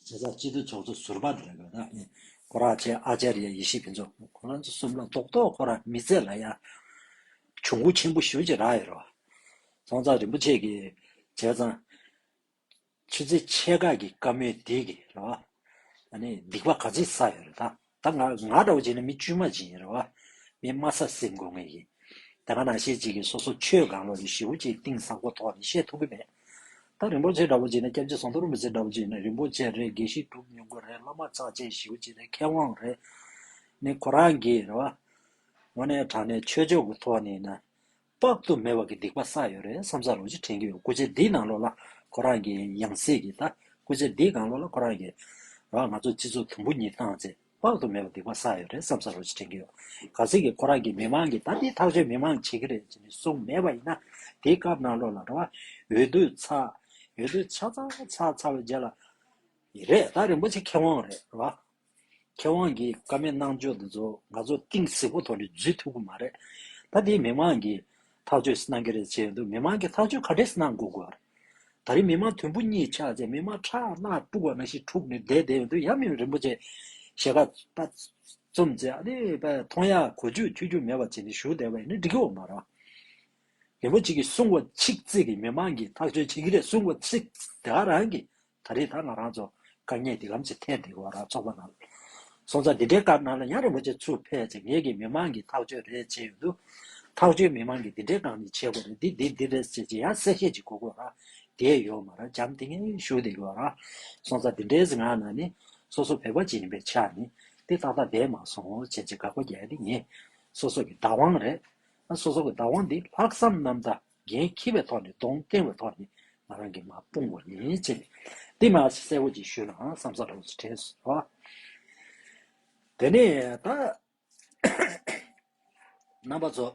Speaker 1: བྱས་ཙང་སྤྱི་འཐུས་ཚོགས་གཙོ་ཟུར་པ་རེད་གོ་རང་ཉིད་ཁོ་རང་ཆེ་ཨ་ཅར་ཡ་ཡེ་ཤེས་ཕུན་ཚོགས་ཁོ་རང་ཚོ་གསུམ་ལ་རྡོག་རྡོག་ཁོ་རང་མི་ཚེ་ལ་ཡང་གྱོང་གུད་ཆེན་པོ་ཞུ་བྱེད་རག་ཡོད་རེད་བསང་ཚགས་རིན་པོ་ཆེ་གི་བྱས་ཙང་ཆུ་ཚེ་ཆེ་ཁག་གི་བཀའ་མོལ་འདི་གི་རེད་ཨ་ནི་སྡིག་པ་ག་ཚིག་བསགས་ཡོད་རེད་ད། ད་ང་ང་འདྲ་བོ་བྱས་ན་མི་དཀྱུས་མ་ཅིག་ཡིན་རེད་བ། མི་དམའ་ས་སེ་དགོས་ངེས་ཡིན། དེ་སྔ་ན་ཤེས་ཅིག་གིས་སོ་སོ་ཆོས་གང་ལོ་རེ་བཞི་བོ་ཅིག་གཏིང་ཟབ་གོ་ཐོག་ནས་བཤད་ཐུབ་ཀྱི་མེད། ད་རིན་པོ་ཆེ་འདྲ་བོ་བྱས་ན་སྐྱབས་རྗེ་ཟོང་དོར་རིན་པོ་ཆེ་འདྲ་བོ་བྱས་ན་རིན་པོ་ཆེ་རེད་དགེ་བཤེས་གྲུབ་ཉུང་པོ་རེད་བླ་མ་ཚགས་ཆེན་བཞི་བོ་བྱས་ན་མཁས་དབང་རེད། ནི་ཁོ་རང་གིས་རེད་བ། ངོ་ནས་དྲང་ནས་ཆོས་ཕྱོགས་ཀྱི་ཐོག་ནས་ན། དཔག་ཏུ་མེད་བ་གི་སྡིག་པ་བསགས་ཡོད་རེད་བསམ་ས་རོགས་གཅིག་དྲན་གྱི་ཡོད་སྐུ་ཚེ་འདི་ནང་ལོག་ལ་ཁོ་རང་གི་ཡང་སྲིད་གི་ད་སྐུ་ཚེ་འདི་གང་ལོག་ལ་ཁོ་རང་གི་རང་ང་ཚོ་སྤྱི་ཚོགས་དུམ་བུ་གཉིས་བཏང་ཚེ་དཔག་ཏུ་མེད་བ་སྡིག་པ་བསགས་ཡོད་རེད་བསམ་ས་རོགས་གཅིག་དྲན་གྱི་ཡོད་ག་ཚིག་གི་ཁོ་རང་གི་མི་མང་གི་ད་འདི་ཐག་ཆོད་མི་མང་བྱེད་གི་རེད་ཅེས་ནས་གསུངས་མེད་པ་ཡིན་ན་དེའི་སྐབས་ནང་ལོག་ལ་ར་བ་འོས་བསྡུ་ཚ་འོས་བསྡུ་ཚ་ཚ་ཚ་ཚ་བའི་རྗེས་ལ་ཡི་རེད་ད་རིན་པོ་ཆེ་མཁས་དབང་རེད་ར་བ། མཁས་དབང་གིས་ཀ་མད་སྣང་འཇོག་འདི་ཚོ་ང་ཚོ་གཏིང་གཟིགས་པོ་ཐོག་ནས་བརྫུས་ཐུབ་ཀྱི་མ་རེད། ད་དེ་མི་མང་གིས་ཐག་གཅོད་གནང་གི་རེད་བྱས་འདུག་མི་མང་གིས་ཐག་གཅོད་ག་རེ་གནང་དགོས་དགོས། ད་རེས་མི་མང་དུམ་བུ་གཉིས་ཆགས་རྗེས་མི་མང་ཁྲག་རླག་དཀྲུགས་པ་ན་ཞིག་འཁྲུགས་ནས་བསྡད་བསྡད་འདུག་ཡབ་མེས་རིན་པོ་ཆེ་ཞལ་ཁ་བཙུམས་རྗེས་ཨ་ནི་པ་མཐོང་ཡག་གོ་རྒྱུ་ཐོས་རྒྱུ་མེད་པ་བྱས་ནས་བཞུགས་བསྡད་པ་ཡིན་ན་འགྲིག་གི་འོ་མ་རང་རིན་པོ་ཆེ་གིས་གསུངས་བ་ཆིག་བརྩེགས་ཀྱིས་མི་མང་གིས་ཐག་གཅོད་བྱེད་ཀྱི་རེད་གསུངས་བ་ཆིག་བརྩེགས་དེ་ག་རང་གིས་ད་རེས་ད་ང་རང་ཚོ་དཀའ་ཉེས་འདི་ལམ་ཚེ་ཐལ་འདི་བ་ར་ཚོགས་པ་རྣམས་སོང་ཙང་འདི་འདྲའི་སྐར་ནང་ལ་ཡང་རིན་པོ་ཆེ་ཚུར་ཕེབས་ཚེ་ངེད་ཀྱིས་མི་མང་གི་ཐག་གཅོད་རེ་བྱེད་ཡོང་དུས། ཐག་གཅོད་མི་མང་གིས་འདི་འདྲའི་སྒང་ནས་བྱེད་དགོས་རེད་འདི་འདི་འདི་རེད་ཟེར་གྱིས་ཡང་གསལ་བཤད་ཅིག་གོ་དགོས་ར་དེ་ཡོད་མ་ར་བྱམས་དེ་ངའི་ཞུ་དེ་ཡོད་ར་སོང་ཙང་འདི་འདྲའི་སྒང་ནང་ནས་སོ་སོ་བོད་པ་ཅིག་ཡིན་པའི་ཆ་ནས་དེ་ཏག་ཏག་བསྡད་མ་སོང་བར་བྱས་ཚེ་དགག་པ་རྒྱག་དེ་ངས་སོ་སོ་གི་བདག་དབང་རེད་ཨ་སོ་སོ་གི་བདག་དབང་འདི་ལྷག་བསམ་རྣམ་དག། འགན་འཁྱེར་བའི་ཐོག་ནས་གདོང་བསྟན་བའི་ཐོག་ནས་ང་རང་གིས་མ་སྤོང་བ་ཡིན་ཅེས་ནས་འདི་མ་གསལ་བོ་ཅིག་ཞུས་ནའང་བསམ་ས་ལོགས་སུ་དྲན་སོང། དེ་ནས་ད། རྣམ་པ་ཚོ།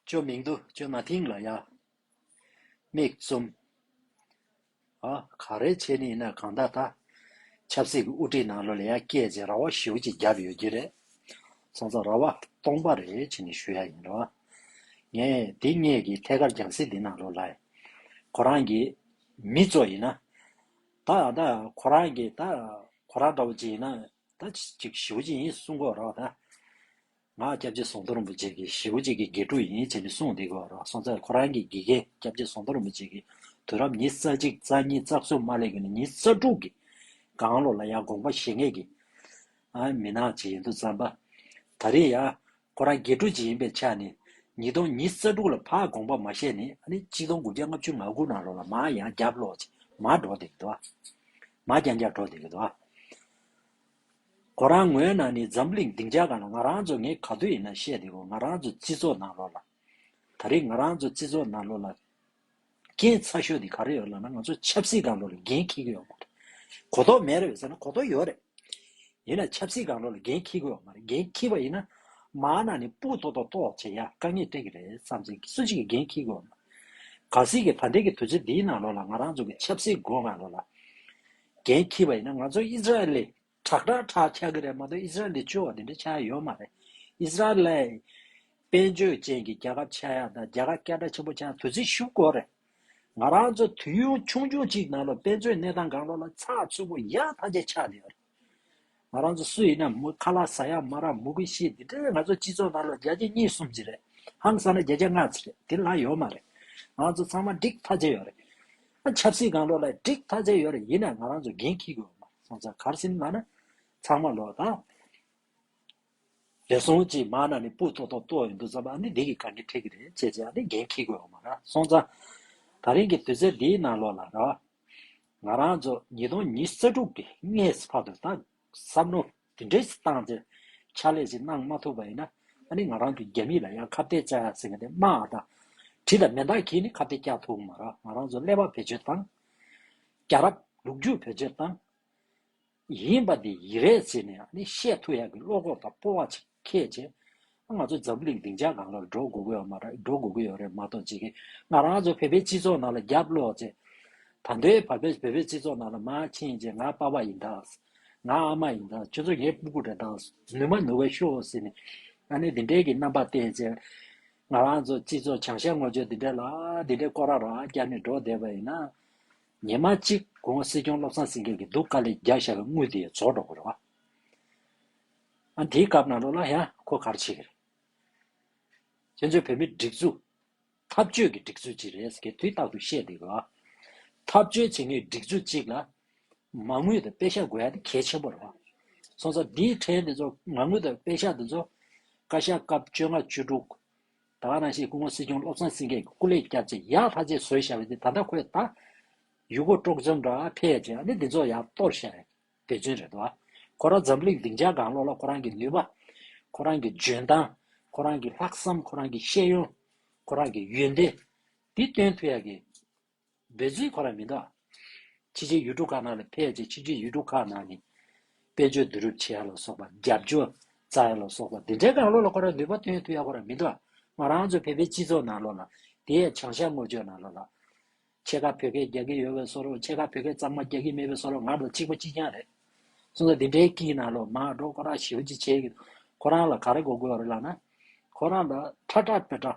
Speaker 1: ཅོ་མིང་དུ་ཅོ་ན་ཐིང་ལ་ཡ། མིག་བཙུམ། ག་རེ་བྱས་ནས་ཡིན་ན་གང་ད་ལྟ་ཆབ་སྲིད་ཀྱི་དབུ་ཁྲིད་ནང་ལོ་ལེགས་ཡ་སྐྱེད་ཅིག་ར་བ་ཞུ་ཅིག་བརྒྱབ་ཡོད་ཀྱི་རེད། སོང་ཙང་ར་བ་སྟོང་པ་རེ་བྱས་ནས་ཞུ་ཡ་ཡིན་རེད་བ། ངས་དེ་སྙེད་ཀྱི་ཐད་ཀར་རྒྱང་སྲིད་འདི་ནང་ལོ་ལ་ཁོ་རང་གི་མི་གཙོ་ཡིན་ན། ད་ད་ཁོ་རང་གི་ད་ཁོ་རང་འདྲ་བོ་ཅིག་ཡིན་ན་ད་ཅིག་ཞུ་ཅིག་ཡིན་གསུང་གོ་ར་བ་ད། ང་སྐྱབས་རྗེ་ཟོང་དོ་རིན་པོ་ཆེ་གི་ཞེ་བོ་གཅིག་གི་དགེ་ཕྲུག་ཡིན་ཅེས་ནི་གསུངས་འདི་གོ་རོ་སོང་ཚད་ཁོ་རང་གི་དགེ་རྒན་སྐྱབས་རྗེ་ཟོང་དོ་རིན་པོ་ཆེ་གི་དུས་རབས་ཉིས་རྩ་གཅིག་རྩ་གཉིས་རྩ་གསུམ་མ་སླེབས་གི་ནི་ཉིས་རྩ་དྲུག་གི་གང་ལོ་ལ་ཡང་དགོངས་པ་བཞེས་ངེས་ཀྱི་མི་ནག་ཅིག་ཡིན་འདུག་བསམ་པ། ད་རེས་ཡང་ཁོ་རང་དགེ་ཕྲུག་ཅིག་ཡིན་པའི་ཆ་ནས་ཉིས་སྟོང་ཉིས་རྩ་དྲུག་ལ་ཕར་དགོངས་པ་མ་བཞེས་ནས་ནི་གཅིག་སྟོང་དགུ་བརྒྱ་ལྔ་བཅུ་ང་དགུ་ནང་ལོ་ལ་མར་ཡང་རྒྱབ་ལོག་ཅིག་མར་འགྲོ་འདི་གི་འདུག་མར་རྒྱང་རྒྱང་འགྲོ་འདི་གི་འདུག། ཁོ་རང་ངོས་ནང་ནས་འཛམ་གླིང་སྡིངས་ཆ་གང་ལ་ང་རང་ཚོ་ངས་ག་དུས་ཡིན་ན་བཤད་བདེ་བོ་ང་རང་ཚོ་བརྩི་ཚོགས་ནང་ལོག་ལ། ད་རེས་ང་རང་ཚོ་བརྩི་ཚོགས་ནང་ལོག་ལ། རྐྱེན་ཚ་ཤོས་དེ་ག་རེ་ཡོད་ལབ་ན་ང་ཚོ་ཆབ་སྲིད་གང་ལོག་ལ་འགན་འཁྱེར་གི་ཡོད་མ་རེད། གོ་རྟོགས་མེད་རེད་ཟེར་ན་གོ་རྟོགས་ཡོད་རེད། ཡིན་ན་ཆབ་སྲིད་གང་ལོག་ལ་འགན་འཁྱེར་གི་ཡོད་མ་རེད་འགན་འཁྱེར་བ་ཡིན་ན། མང་ནང་ནས་སྤུ་ཏོག་ཏོག་ཏོག་བྱེད་ཡ་དཀའ་ངེས་སྤྲད་གི་རེད་བསམ་ཚེ་སུ་གཅིག་གིས་འགན་འཁྱེར་གི་ཡོད་མ་རེད། ག་སྲིད་ཀྱི་ད་ལྟའི་གི་དུས་ཚོད་འདིའི་ནང་ལོག་ལ་ང་རང་ཚོ་གི་ཆབ་སྲིད་སྒོ་གང་ལོག་ལ། རྒན་ཁྱི་བ་ཡིན་ན་ང་ཚོ་ཨིས་ར་ཨེལ་ལས་དྲག་དྲག་དྲག་ཆགས་ཀྱི་རེད་མ་གཏོགས་ཨིས་ར་ཨེལ་ལས་སྐྱོ་བ་དེ་འདྲ་ཆགས་ཡོད་མ་རེད། ཨིས་ར་ཨེལ། དཔལ་འབྱོར་ཅན་གྱི་རྒྱལ་ཁབ་ཆགས་ཡག་དང་རྒྱལ་ཁབ་སྐད་གྲགས་ཆེན་པོ་ཆགས་དུས་ཚིགས་ཤུགས་སྐོར་རེད། ང་རང་ཚོ་དུས་ཡུན་ཆུང་ཆུང་གཅིག་ནང་ལོ་དཔལ་འབྱོར་གནས་སྟངས་གང་ལོ་ལ་ཚགས་ཚུད་པོ་ཡག་ཐམས་ཅད་ཆགས་ཡོད་རེད། ང་རང་ཚོ་སུ་ཡིན་ནམ་མོ་ཁ་ལག་ཟ་ཡག་མ་རག་མོ་ཀུན་ཤེས་འདི་འདྲའི་ང་ཚོ་སྤྱི་ཚོགས་ནང་ལ་བརྒྱ་ཆ་གཉིས་གསུམ་གཅིག་རེད་ཧམ་བསམ་ན་བརྒྱ་ཆ་ལྔ་ཚིག་རེད་དེ་ལ་ཡོད་མ་རེད་ང་ཚོ་ཚང་མ་འགྲིག་ཐག་བཅད་ཡོད་རེད་ཨ་ཆབ་སྲིད་གང་ལོག་ལ་འགྲིག་ཐག་བཅད་ཡོད་རེད་ཡིན་ན་ང་རང་ཚོ་འགན་འཁྱི་དགོས་མ་སོང་ཚ་གར་སིམ་ལ་ན་ཚང་མ་ལོག་ད། རེད་སོང་ཅིག་མ་ན་ནི་སྤུ་ཐོག་ཐོག་ཏོག་ཡོད་འདུག་ཚ་བ་འདི་འདི་གི་གང་གི་ཐད་ཀི་རེད་ཅེས་ཅེས་ཨ་ནི་འགན་འཁྱི་དགོས་མ་ར་སོང་ཚ། ད་རིང་གི་དུས་ཚད་འདིའི་ནང་ལོག་ལ་ར་བ། ང་རང་ཚོ་ཉིས་སྟོང་ཉིས་བརྩེགས་དྲུག་གི་སྔའི་བར་དུ་ད་གསབ་རྣོ་དེ་འདྲའི་བཏང་ཚེ་ཕྱག་ལས་ཞིག་གནང་མ་ཐུབ་པ་ཡིན་ན་ནི་ང་རང་ཚོ་རྒྱ་མི་ལ་ཡང་ཁ་བརྡའི་བཙན་ཟེར་མཁན་དེ་སྨྲ་བ་དང་བྲིས་དང་མེ་མདའ་གྱིས་ནི་ཁ་བརྡའི་བསྐྱལ་ཐུབ་མ་རང་ང་རང་ཚོ་ཀླད་པ་བེད་སྤྱོད་བཏང། རྒྱ་རབ་ལུག་རྒྱུད་བེད་སྤྱོད་བཏང། ཡིན་པ་འདི་ཡི་རེད་ཟེར་ནས་ཡང་ནི་བཤད་ཐུ་ཡག་གི་བློ་ཁོག་དང་སྤོ་བ་ཅིག་ཁྱེད་ཀྱིས། ང་ཚོ་འཛམ་བུ་གླིང་སྡིངས་ཆ་གང་ལ་འགྲོ་དགོས་གི་ཡོད་མ་རེད་འགྲོ་དགོས་གི་ཡོད་རེད་མ་གཏོགས་ཅི་གི་ང་རང་ཚོ་བོད་པའི་སྤྱི་ཚོགས་ནང་ལ་རྒྱབ་བློ་ཚེ། ད་ལྟའི་བར་བོད་པའི་སྤྱི་ཚོགས་ནང་ལ་མ་ཕྱིན་རྗེས་ང་དཔའ་བ་ཡིན་དྭགས། ང་ཨ་མ་ཡིན་དྭགས་ཁྱོད་ཚོ་ངའི་སྤུ་གུ་རེད་དྭགས་ནུས་མ་ནུས་བ་ཤོག་ཟེར་ནས་ཡང་ནི་འདི་འདྲའི་གི་རྣམ་པ་བསྟན་རྗེས། ང་རང་ཚོ་སྤྱི་ཚོགས་བྱང་ཤ་ངོ་ཅོ་འདི་འདྲའི་ལ་འདི་འདྲའི་སྐོར་ར་ར་བསྐྱར་ནས་འགྲོ་བསྡད་པ་ཡིན་ན། ཉེས་མ་གཅིག་དགོངས་སྲིད་སྐྱོང་བློ་བཟང་སེང་གེ་གི་སྡུག་དཀའ་ལས་རྒྱག་བཞག་གི་དངུལ་དེ་རྫོགས་འགྲོ་གི་རེད་བ། ཨ་འདིའི་སྐབས་ནང་ལོག་ལ་ཡང་ཁོ་གར་བྱེད་གི་རེད། ཁྱེད་ཚོའི་བོད་མི་སྒྲིག་འཛུགས། འཐབ་རྕོད་ཀྱི་སྒྲིག་འཛུགས་གཅིག་རེད་ཟེར་གི་དུས་རྟག་ཏུ་ཤེས་འདི་གི་བ། འཐབ་རྕོད་བྱེད་མཁན་སྒྲིག་འཛུགས་གཅིག་ལ། མ་དངུལ་དང་དཔེ་ཤག་དགོས་ཡ་དེ་གལ་ཆེན་པོ་རེད་བ། སོང་ཙང་འདིའི་ཕྲན་དེ་ཚོ་མ་དངུལ་དང་དཔེ་ཤག་དེ་ཚོ། བཀའ་ཤག་སྐབས་བཅོ་ལྔ་བཅུ་དྲུག། ད་བར་རང་ཞིག་སྐུ་ངོ་སྲིད་སྐྱོང་བློ་བཟང་སེང་གེ་སྐུ་ལས་བསྐྱབས་རྗེས་ཡག་ལྷ་རྗེས་བཟོས་བཞག་པ་དེ་ད་ལྟ་ཁོས་ད་ཡུལ་སྐོར་སྤྲོ་འཆམ་འདྲ་ཕལ་ཆེ་བ་ནི་འདི་ཚོ་ཡག་སྟོབས་ཞན་བའི་དེ་ཚུན་རེད་དོ། ཁོ་རང་འཛམ་གླིང་སྡིངས་ཆ་དགང་བློ་ལ་ཁོ་རང་གི་ནུས་པ། ཁོ་རང་གི་འཇོན་ཐང། ཁོ་རང་གི་ལྷག་བསམ་ཁོ་རང་གི་ཤེས་ཡོན། ཁོ་རང་གི་ཡོན་ཏན། འདི་སྟོན་ཐུབ་ཡག་གི། འབོད་ཚིག་གོ་ར་མི་འདུག་ཕྱི་རྒྱལ་ཡུལ་གྲུ་ཁག་ནང་ལ་ཕེབས་རྗེས་ཕྱི་རྒྱལ་ཡུལ་གྲུ་ཁག་ནང་གི་དཔེ་བརྗོད་བསྡུ་རུབ་བྱེད་ཡ་ལ་སོགས་པ་རྒྱབ་སྐྱོར་རྩ་ཡ་ལ་སོགས་པ་འདི་འདྲའི་དགག་བློ་ལ་གོ་ར་ནུས་པ་ཐོན་ཐུབ་ཡ་གོ་ར་མི་འདུག་ང་རང་ཚོ་བོད་པའི་སྤྱི་ཚོགས་ནང་ལོག་ལ་དེ་ཡའི་བྱང་ཤར་སྔོ་ཆོས་ནང་ལོག་ལ་ཕྱེད་ཀ་བོད་སྐད་རྒྱག་གི་ཡོད་བས་སོ་རོགས་ཕྱེད་ཀ་བོད་སྐད་གཙང་མ་རྒྱག་གི་མེད་བས་སོ་རོགས་ང་ཚོ་གཅིག་པ་གཅིག་རྐྱང་རེད་གསུངས་ས་འདི་འདྲའི་ཀིའི་ནང་ལོག་མ་འགྲོ་གོ་ར་ཞེའུ་ཅི་བྱེད་ཀི་འདུག་ཁོ་རང་ལ་ག་རེ་གོ་དགོས་རེད་ལགས་ན་ཁོ་རང་ལ་ཁྲ་ཁྲ་བོད་ཁྲ།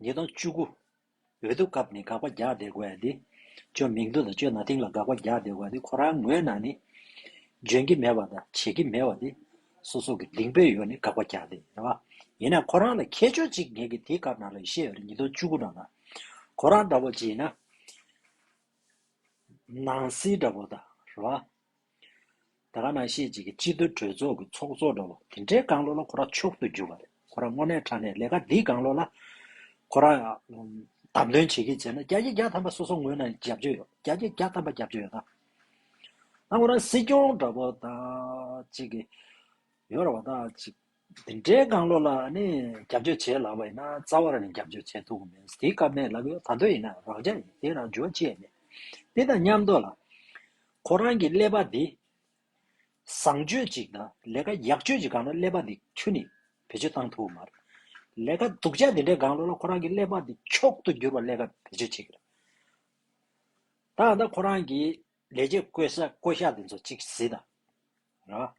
Speaker 1: ཉིས་སྟོང་བཅུ་དགུ། འོས་བསྡུ་སྐབས་ནས་དགག་པ་རྒྱག་བསྡད་དགོས་ཡ་དེ། ཅོ་མིང་དུ་དང་ཅོ་ན་ཐིང་ལ་དགག་པ་རྒྱག་བསྡད་དགོས་ཡ་དེ་ཁོ་རང་ངོས་ནང་ནས། འཇོན་གྱི་མེད་པ་དང་བྱེད་ཀྱི་མེད་བ་དེ། སོ་སོ་གི་གདིང་སྤོས་ཡོ་ནས་དགག་པ་རྒྱག་བསྡད་ཡ་བ། ཡིན་ན་ཁོ་རང་ལ་ཁྱད་ཆོས་གཅིག་ངེད་ཀྱི་དེ་སྐབས་ནང་ལ་ཡོ་ཤེས་ཡོ་རེད་ཉིས་སྟོང་བཅུ་དགུ་ནང་ལ། ཁོ་རང་འདྲ་བོ་ཇི་ཡིན་ན། ནང་སེལ་འདྲ་བོ་དང་རེད་བ། དེ་ག་ན་ཤེས་བྱེད་ཀྱི་སྤྱི་བསྡུ་གྲོས་ཚོགས་ཀྱི་ཚོགས་གཙོ་འགྲོ་ལོ་དེ་འདྲའི་དགང་བློ་ལ་ཁོ་ར་མཆོག་ཏུ་གྱུར་བ་རེད་ཁོ་ར་དངོས་གནས་ཁྲ་ནས་ལས་ཀ་འདིའི་དགང་བློ་ལ་ཁོ་ར་བདམས་ཐོན་བྱེད་ཀྱི་བྱས་ན་རྒྱ་ཁྱི་རྒྱ་ཐམ་པ་སོ་སོ་ངོས་ན་རྒྱབ་སྐྱོ་ཡོད་རྒྱ་ཁྱི་རྒྱ་ཐམ་པ་རྒྱབ་སྐྱོ་ཡོད་ད་ང་རང་སྲིད་སྐྱོང་འདྲ་པོ་ད་ཅིག་ཡོད་ར་བ་ད་ཅིག། འདི་འདྲའི་དགང་བློ་ལ་ནི་རྒྱབ་སྐྱོར་བྱེད་ལགས་པ་ཡིན་ན་རྩ་བ་ལ་ནི་རྒྱབ་སྐྱོར་བྱེད་ཐུབ་གི་མེད་དེའི་སྐབས་མེད་ལབ་ཡོད་ད་གདོད་ཡིན་ན་རག་བྱ་ཡིན་དེ་རང་འཇོག་བྱེད་མེད་དེ་དང་མཉམ་དུ་ལ། ཁོ་རང་གི་ཀླད་པ་འདི་བཟང་སྤྱོད་ཅིག་དང་ལས་ཀ་ཡག་སྤྱོད་ཅིག་གང་ན་ཀླད་པ་འདི་ཁྱོད་ནི་བེད་སྤྱོད་བཏང་ཐུབ་མ་རེད། ལས་ཀ་སྡུག་ཅག་འདི་འདྲའི་དགང་བློ་ལ་ཁོ་རང་གི་ཀླད་པ་འདི་མཆོག་ཏུ་འགྱུར་བ་ཀླད་ཀ་བེད་སྤྱོད་བྱེད་ཀྱི་རེད། ད་ལྟ་ཁོ་རང་གི་ལས་བྱེད་བསྐོས་བསགས་བསྐོ་གཞག་འདི་ཚོ་གཅིག་གཟིགས་དང། རེད་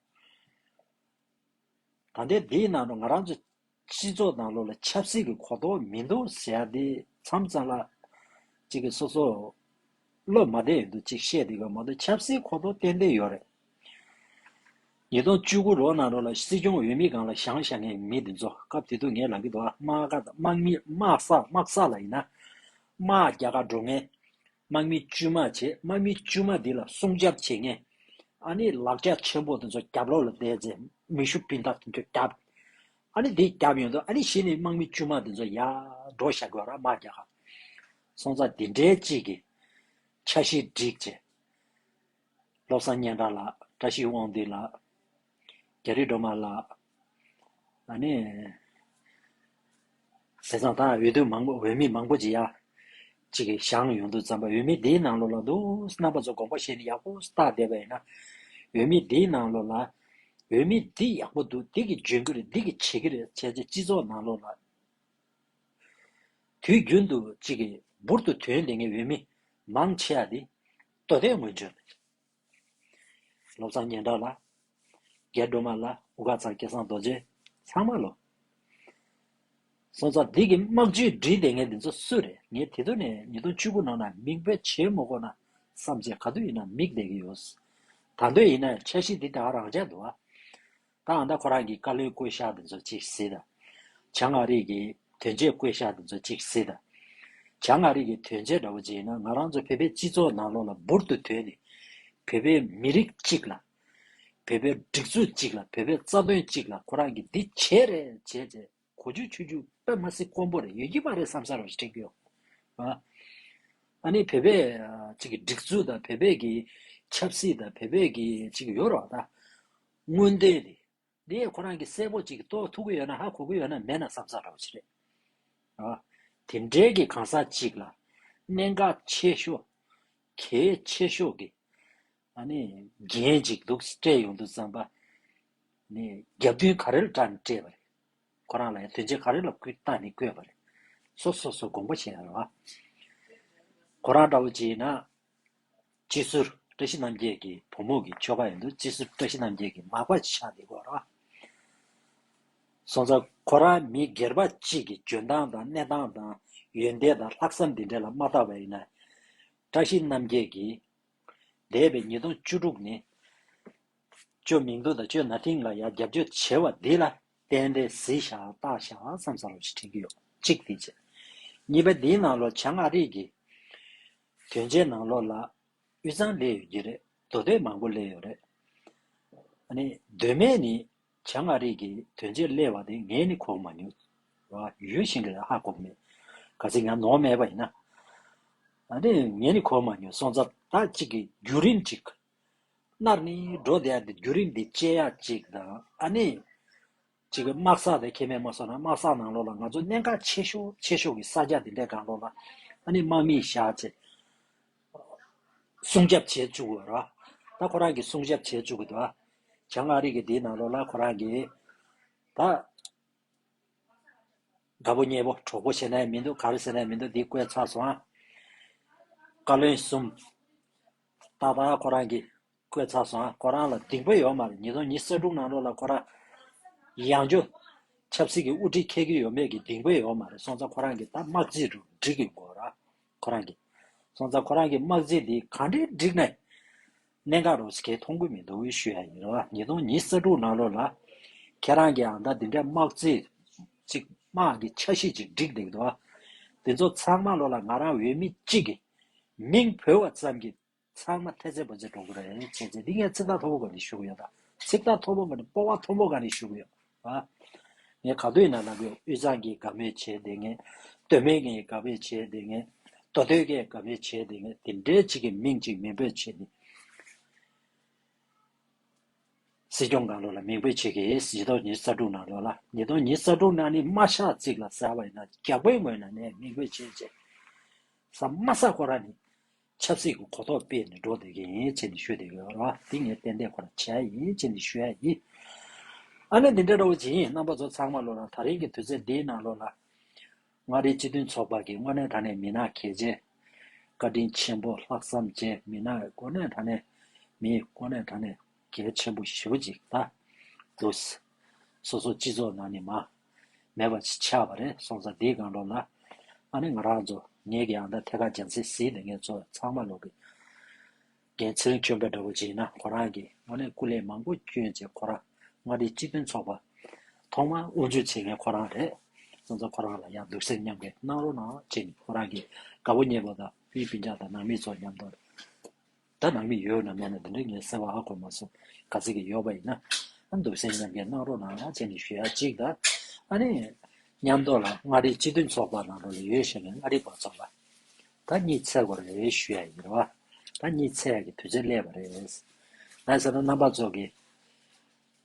Speaker 1: བ། ད་ལྟའི་འདིའི་ནང་དུ་ང་རང་ཚོ་སྤྱི་ཚོགས་དང་ལོ་ལ་ཆབ་སྲིད་ཀྱི་གོ་རྟོགས་མི་འདུག་ཟེར་ཡག་འདི་མཚམས་གཙང་ལ། གཅིག་གིས་སོ་སོ། བློ་མ་བདེ་ཡོད་འདུག་གཅིག་བཤད་འདི་ག་མ་གཏོགས་ཆབ་སྲིད་གོ་རྟོགས་ཏན་ཏན་ཡོད་རེད། ཉིས་སྟོང་བཅུ་དགུ་ལོ་ནང་རོ་ལ་སྲིད་སྐྱོང་འོས་མི་སྒང་ལ་བཞང་བཞང་ངའི་མི་འདི་ཚོ་སྐབས་དེ་དུས་ངའི་ལག་གི་དུ་བ་དམག་དམག་མི་དམག་ས་དམག་ས་ལ་ཡིན་ན་དམག་རྒྱ་གར་འགྲོ་ངའི་དམག་མི་དཀྱུས་མ་བྱས་དམག་མི་དཀྱུས་མ་འདི་ལ་སྲུང་སྐྱབས་བྱེད་མཁན་ཨ་ནི་ལག་རྒྱ་ཆེན་པོ་དེ་ཚོ་རྒྱབ་ལོག་ལ་བསྡད་རྗེས་མེ་ཤུགས་སྤུན་ཟླ་དེ་ཚོ་བརྒྱབ་ཨ་ནི་དེ་བརྒྱབ་ཡོང་དུས་ཨ་ནི་གཞི་ནས་དམག་མི་དཀྱུས་མ་དེ་ཚོ་ཡར་འགྲོ་ཞག་དགོས་ར་དམག་རྒྱག་ཧ་སོང་ཙང་དེ་འདྲའི་གཅིག་གི་ཆ་ཤས་བསྒྲིགས་རྗེས། བློ་བཟང་སྙན་གྲགས་ལགས་བཀྲ་ཤིས་དབང་འདུས་ལགས། རྒྱ་རི་སྒྲོལ་མ་ལགས། ད་ནི། ཟས་གཙང་དང་འོས་བསྡུ་མང་པོ་འོས་མི་མང་པོ་ཇི་ཡག་ཅིག་བཞག་ཡོང་དུས་བརྩམས་པ་འོས་མི་འདིའི་ནང་ལོགས་ལ་འདུག་རྣམ་པ་ཚོ་དགོངས་པ་བཞེས་ནས་ཡག་པོ་བལྟ་བསྡད་པ་ཡིན་ན། འོས་མི་འདིའི་ནང་ལོགས་ལ། འོས་མི་འདི་ཡག་པོ་འདུག་འདི་གི་འཇོན་གི་རེད་འདི་གི་བྱེད་གི་རེད་བྱས་ཚེ་སྤྱི་ཚོགས་ནང་ལོགས་ལ། དུས་རྒྱུན་དུ་ཅིག་གིས་འབུར་དུ་དོན་ལེན་མཁན་འོས་མི་མང་ཆེ་ཡག་འདི། ལྟོ་ཟླའི་སྔོན་བྱོན། ལོ་ཙཱ་སྙན་གྲགས་ལ། རྒྱལ་སྒྲོལ་མ་ལ་འུ་ག་ཚང་སྐལ་བཟང་རྡོ་རྗེ་ཚང་མ་ལོ། སོང་ཙང་འདི་གི་དམག་ཇུས་བསྒྲིལ་དེ་ངས་འདི་ཚོ་སུ་རེད་ངས་དེ་དུས་ནས་ཉིས་སྟོང་བཅུ་དགུ་ནང་ན་མིག་དཔེ་བྱེད་མོ་ཁོ་ན་བསམ་ཚེ་ག་དུས་ཡིན་ན་མིག་བསྡད་ཀྱི་ཡོད། ད་འདོད་ཡིན་ན་འཆར་གཞི་འདི་ད་རང་འཇགས་འདུག་ཨ། གང་ཟླ་ཁོ་རང་གི་བཀའ་བློན་བསྐོས་བཞག་ཏུ་འཛུགས་ཅིག་སྲིད། བྱ་ངག་རིགས་ཀྱི་དོན་བྱེད་བསྐོས་བཞག་ཏུ་འཛུགས་ཅིག་སྲིད། བྱ་ངག་རིགས་ཀྱི་དོན་བྱེད་འདྲ་བོ་ཅིག་ཡིན་ན་ང་རང་ཚོ་བོད་པའི་སྤྱི་ཚོགས་ནང་ལོགས་ལ་འབུར་དུ་དོན་ནས། བོད་པའི་མི་རིགས་གཅིག་ལ། བོད་པའི་སྒྲིག་འཛུགས་གཅིག་ལ་བོད་པའི་རྩ་དོན་གཅིག་ལ་ཁོ་རང་གིས་འདི་བྱས་རེད་བྱས་ཚེ་གོ་རྒྱུ་ཆུ་རྒྱུ་པད་མ་སྲིན་དཀོན་པོ་རེད་ཡོད་ཀྱི་མ་རེད་བསམ་བསམ་རེ་བྱེད་ཀྱི་ཡོད། ཨ་ནི་བོད་པའི་ཅིག་སྒྲིག་འཛུགས་དང་བོད་པའི་ཀྱི་ཆབ་སྲིད་དང་བོད་པའི་ཀྱི་ཅིག་ཡོད་རོགས་ད། སྔོན་འདོད་རེད། འདི་ཁོ་རང་གིས་གསལ་པོ་གཅིག་རྟོགས་ཐུབ་ཀྱི་ཡོད་ན་ཧ་གོ་གི་ཡོད་ན་མེད་ན་བསམ་ཚར་རོགས་བྱེད། ཨ། དེ་འབྲེལ་གྱི་གང་ཟག་ཅིག་ལ། གནད་འགག་ཆེ་ཤོས། གལ་ཆེ་ཤོས་ཀྱི། ཨ་ནི། རྒྱན་ཅིག་འདུག་སྤྲད་ཡོང་དུས་བརྩམས་པ། ནི། རྒྱབ་མདུན་ག་རེར་བཀྲ་ནས་སྤྲད་པ་རེད། ཁོ་རང་ལ་ཡང་དོན་ཆེན་ག་རེ་ལ་སྐུལ་བཏང་ནས་བསྐོས་པ་རེད། སོ་སོ་སོ་དགོངས་པ་བཞེས་ན་རོགས། ཁོ་རང་འདྲ་བོ་བྱས་ན། སྤྱི་ཟུར་བཀྲ་ཤིས་རྣམ་རྒྱལ་གྱི་བུ་མོ་གི་ཆོ་ག་ཡིན་འདུག་སྤྱི་ཟུར་བཀྲ་ཤིས་རྣམ་རྒྱལ་གྱི་མག་པ་ཆགས་འདི་གོ་ར། སོང་ཙང་ཁོ་རང་མི་སྒེར་པ་གཅིག་གི་འཇོན་ཐང་དང་གནས་སྟངས་དང་ཡོན་ཏན་དང་ལྷག་བསམ་འདི་འདྲ་ལ་མ་བལྟ་བ་ཡིན་ན། བཀྲ་ཤིས་རྣམ་རྒྱལ་གྱིས། འདས་པའི་ཉིས་སྟོང་བཅུ་དྲུག་ནི། ཅོ་མིང་རྡོ་དང་ཅོ་ན་ཐིང་ལ་ཡ་རྒྱབ་སྐྱོར་བྱེད་བ་འདི་ལ་བརྟེན་ཏེ་གཟི་ཞག་སྟག་ཞག་བསམ་ས་རོགས་ཞེས་དྲན་གྱི་ཡོད། གཅིག་དེ་བྱས། གཉིས་པ་འདིའི་ནང་ལོ་བྱང་ཨ་རིག་གི། དོན་བྱས་ནང་ལོགས་ལ། དབུས་གཙང་སླེ་ཡོད་ཀྱི་རེད་མདོ་སྟོད་མང་པོ་སླེ་ཡོད་རེད། ཨ་ནི། གདོད་མའི་ནི། བྱང་མངའ་རིས་ཀྱི་དོན་བྱས་སླེ་བ་དེ་ངས་ནི་གོག་མ་མྱོང། ཡུལ་གཞན་གྱི་ལ་ཧ་གོག་མེད། ག་ཚིག་ཡང་ནོར་མེད་པ་ཡིན་ན། ཨ་ནི། ངས་ནི་གོག་མ་མྱོང་སོང་ཙག་ད་ཅིག་གི་རྒྱུ་རིན་ཅིག། སྣར་ནི། འགྲོ་བསྡད་ཡ་དེ་རྒྱུ་རིན་དེ་བཅད་ཡ་ཅིག་དང་ཨ་ནི། གཅིག་གི་དམག་ས་དེ་ཁེ་མེད་མ་སོང་ན་དམག་ས་ནང་ལོགས་ལ་ང་ཚོ་གནད་འགག་ཆེ་ཤོས་ཆེ་ཤོས་ཀྱི་ས་རྒྱ་དེ་འདྲའི་གང་ལོགས་ལ་ཨ་ནི་དམག་མིས་བཞག་ཅེས་སྲུང་སྐྱབས་བྱེད་བཅུག་གོ་ར་ད་ཁོ་རང་གིས་སྲུང་སྐྱབས་བྱེད་བཅུག་གི་འདུག་གྱང་ངྷ་རིགས་ཀྱི་དེའི་ནང་ལོགས་ལ་ཁོ་རང་གིས་ད་དགའ་པོ་མཉེས་པོ་གྲོགས་པོ་བྱེད་ནའི་མི་འདུག་ག་རེ་བྱེད་ནའི་མི་འདུག་འདི་བཀོད་ཚར་སོང་ཨ། བཀའ་བློན་གསུམ། ད་ད་ཁོ་རང་གིས། ཁོས་ཚ་སོང་ཨ་ཁོ་རང་ལ་སྡིག་པ་ཡོད་མ་རེད་ཉིས་སྟོང་ཉིས་གསར་སྒྲུང་གནང་རོགས་ལ་ཁོ་རང་ཡང་འཇོ། ཆབ་སྲིད་ཀྱི་དབུ་ཁྲིད་ཁྱེད་ཀྱི་ཡོད་མེད་ཀྱི་སྡིག་པ་ཡོད་མ་རེད་སོང་ཚ་ཁོ་རང་གི་ད་དམག་རྩིས་དྲུག་བསྒྲིག་གི་མགོ་ར་ཁོ་རང་གི། སོང་ཚ་ཁོ་རང་གི་དམག་རྩིས་འདི་ག་འདྲའི་བསྒྲིག་ནས་གནད་འགག་རོགས་ཁྱེད་མཐོང་གི་མི་འདུག་འོས་ཤོས་ཡ་ཡིན་རོགས་ཨ་ཉིས་སྟོང་ཉིས་གསར་སྒྲུང་གནང་རོགས་ལ། ཁྱེད་རང་གི་ཨང་ད་འདི་འདྲའི་དམག་རྩིས་ཅིག་དམག་གི་ཆ་ཤས་ཅིག་བསྒྲིག་འདེག་འདུག་ཨ། འདི་ཚོ་ཚང་མ་ལོ་ལ་ང་རང་འོས་མི་གཅིག་གི་མིང་བོས་བ་ཙམ་གྱི། ཚང་མ་ཐེ་ཚེ་པོ་ཚེ་གྲོགས་པོ་རེད་ཆེ་ཚེ་འདི་ངས་ཚིག་ཐག་ཐོ་བོ་ག་རེ་ཞུ་གི་ཡོད་ད་ཚིག་ཐག་ཐོ་བོ་མ་ནི་སྤོ་བ་ཐོ་བོ་ག་རེ་ཞུ་གི་ཡོད་ཨ། ངས་ག་དུས་ན་ན་གོས་དབུས་གཙང་གི་དགའ་མོས་བྱས་དེ་ངས་སྟོད་སྨད་ཀྱི་དགའ་བོས་བྱས་དེ་ངས་མདོ་སྟོད་ཀྱི་དགའ་བོས་བྱས་དེ་ངས་དེ་འདྲའི་གཅིག་གི་མིང་གཅིག་མིང་འབོད་བྱས་ནི། སྲིད་སྐྱོང་གང་ལོ་ལ་མིང་འབོད་བྱེད་ཀྱི་ཡིན་ཉིས་སྟོང་ཉིས་རྩ་དྲུག་ནང་ལོ་ལ་ཉིས་སྟོང་ཉིས་རྩ་དྲུག་ནང་ནི་དམའ་ཤག་གཅིག་ལ་ཟེར་བ་ཡིན་ན་རྒྱ་སྒོའི་ངོས་ན་ནས་མིང་འབོད་བྱེད་བྱེད་ས་དམའ་ས་ཁོ་ར་ནི། ཆབ་སྲིད་ཀྱི་གོ་རྟོགས་སྤེལ་ནས་འགྲོ་བསྡད་ཀྱི་ཡིན་ཅེས་ནི་ཤོད་བསྡད་ཡོད་ལ་འདི་ངས་ཏན་ཏན་ཁོ་ལ་བྱས་ཡིན་ཅེས་ནི་ཤོད་ཡ་ཡིན། ཨ་ནེ་འདི་འདྲ་རོ་བྱེད་ཡིན་རྣམ་པ་ཚོ་ཚང་མ་བློ་ལ་ད་རིང་གི་དུས་ཚོད་འདིའི་ནང་བློ་ལ། མངའ་རིས་སྤྱི་མཐུན་ཚོགས་པ་གི་དངོས་གནས་ད་ནས་མི་ནག་གལ་ཆེ། བཀའ་དྲིན་ཆེན་པོ་ལྷག་བསམ་བཅས་མི་ནག་དངོས་གནས་ད་ནས་མི་དངོས་གནས་ད་ནས་གལ་ཆེན་པོ་ཞེ་བོ་ཅིག་ད། འགྲོ། སོ་སོ་སྤྱི་ཚོགས་ནང་ནི་མང། མེད་པར་ཆགས་པ་རེད་སོང་ཙང་དེའི་གང་ལོག་ལ། ཨ་ནེ་ང་རང་ཚོ་ངེད་ཀྱི་ཨ་མདའ་ཐད་ཀར་འཇམ་སེ་ཟིའི་ལས་ངན་ཚོ་ཚང་མ་ལོག་གི། རྒན་ཚེ་རིང་ཁྱོད་འབའ་འདྲ་བོ་བྱིན་ན་ཁོ་རང་གི་ཨ་ནེ་སྐུ་ལས་མང་པོ་བསྐྱོན་རྗེས་ཁོ་རང་མངའ་སྡེའི་སྤྱི་དོན་ཚོགས་པ། ཐོག་མར་དབུ་འཛུགས་བྱེད་མཁན་ཁོ་རང་རེད་སོང་ཙང་ཁོ་རང་ལ་ཡང་སྡུག་སེམས་མཉམ་སྐྱེ་གནང་རོགས་གནང་ཅིག་ཁོ་རང་གི་དགའ་བོ་མཉེས་པོ་དང་དབྱི་པིན་ཅང་དང་ནང་མི་ཚོ་མཉམ་དུ། སྒྲ་ནང་གི་ཡོད་ནམ་མེད་ན་དེ་འདྲ་ངས་གསལ་བ་ཨ་གོ་མ་སོང་ག་ཚད་ཀྱི་ཡོད་པ་ཡིན་ན་འདུག་སེམས་ཉམས་ཀྱི་གནང་རོགས་གནང་ཅན་གྱི་ཞུ་ཡ་གཅིག་དང་ཨ་ནི། ཉམས་རྟོགས་ལ་མངའ་རིས་སྤྱི་མཐུན་ཚོགས་པ་ནང་དུ་ལས་ཡོད་བཞག་མཁན་མངའ་རིས་པ་ཚོ་ལ་ད་གཉིད་ཚད་གོ་རེ་ཞུ་ཡ་ཡིན་རོགས་ཨ་ད་གཉིད་ཚད་ཀྱི་དུས་ཚོད་སླེབས་པ་རེད་ད་ཟེར་ན་རྣམ་པ་ཚོགས་ཀྱི་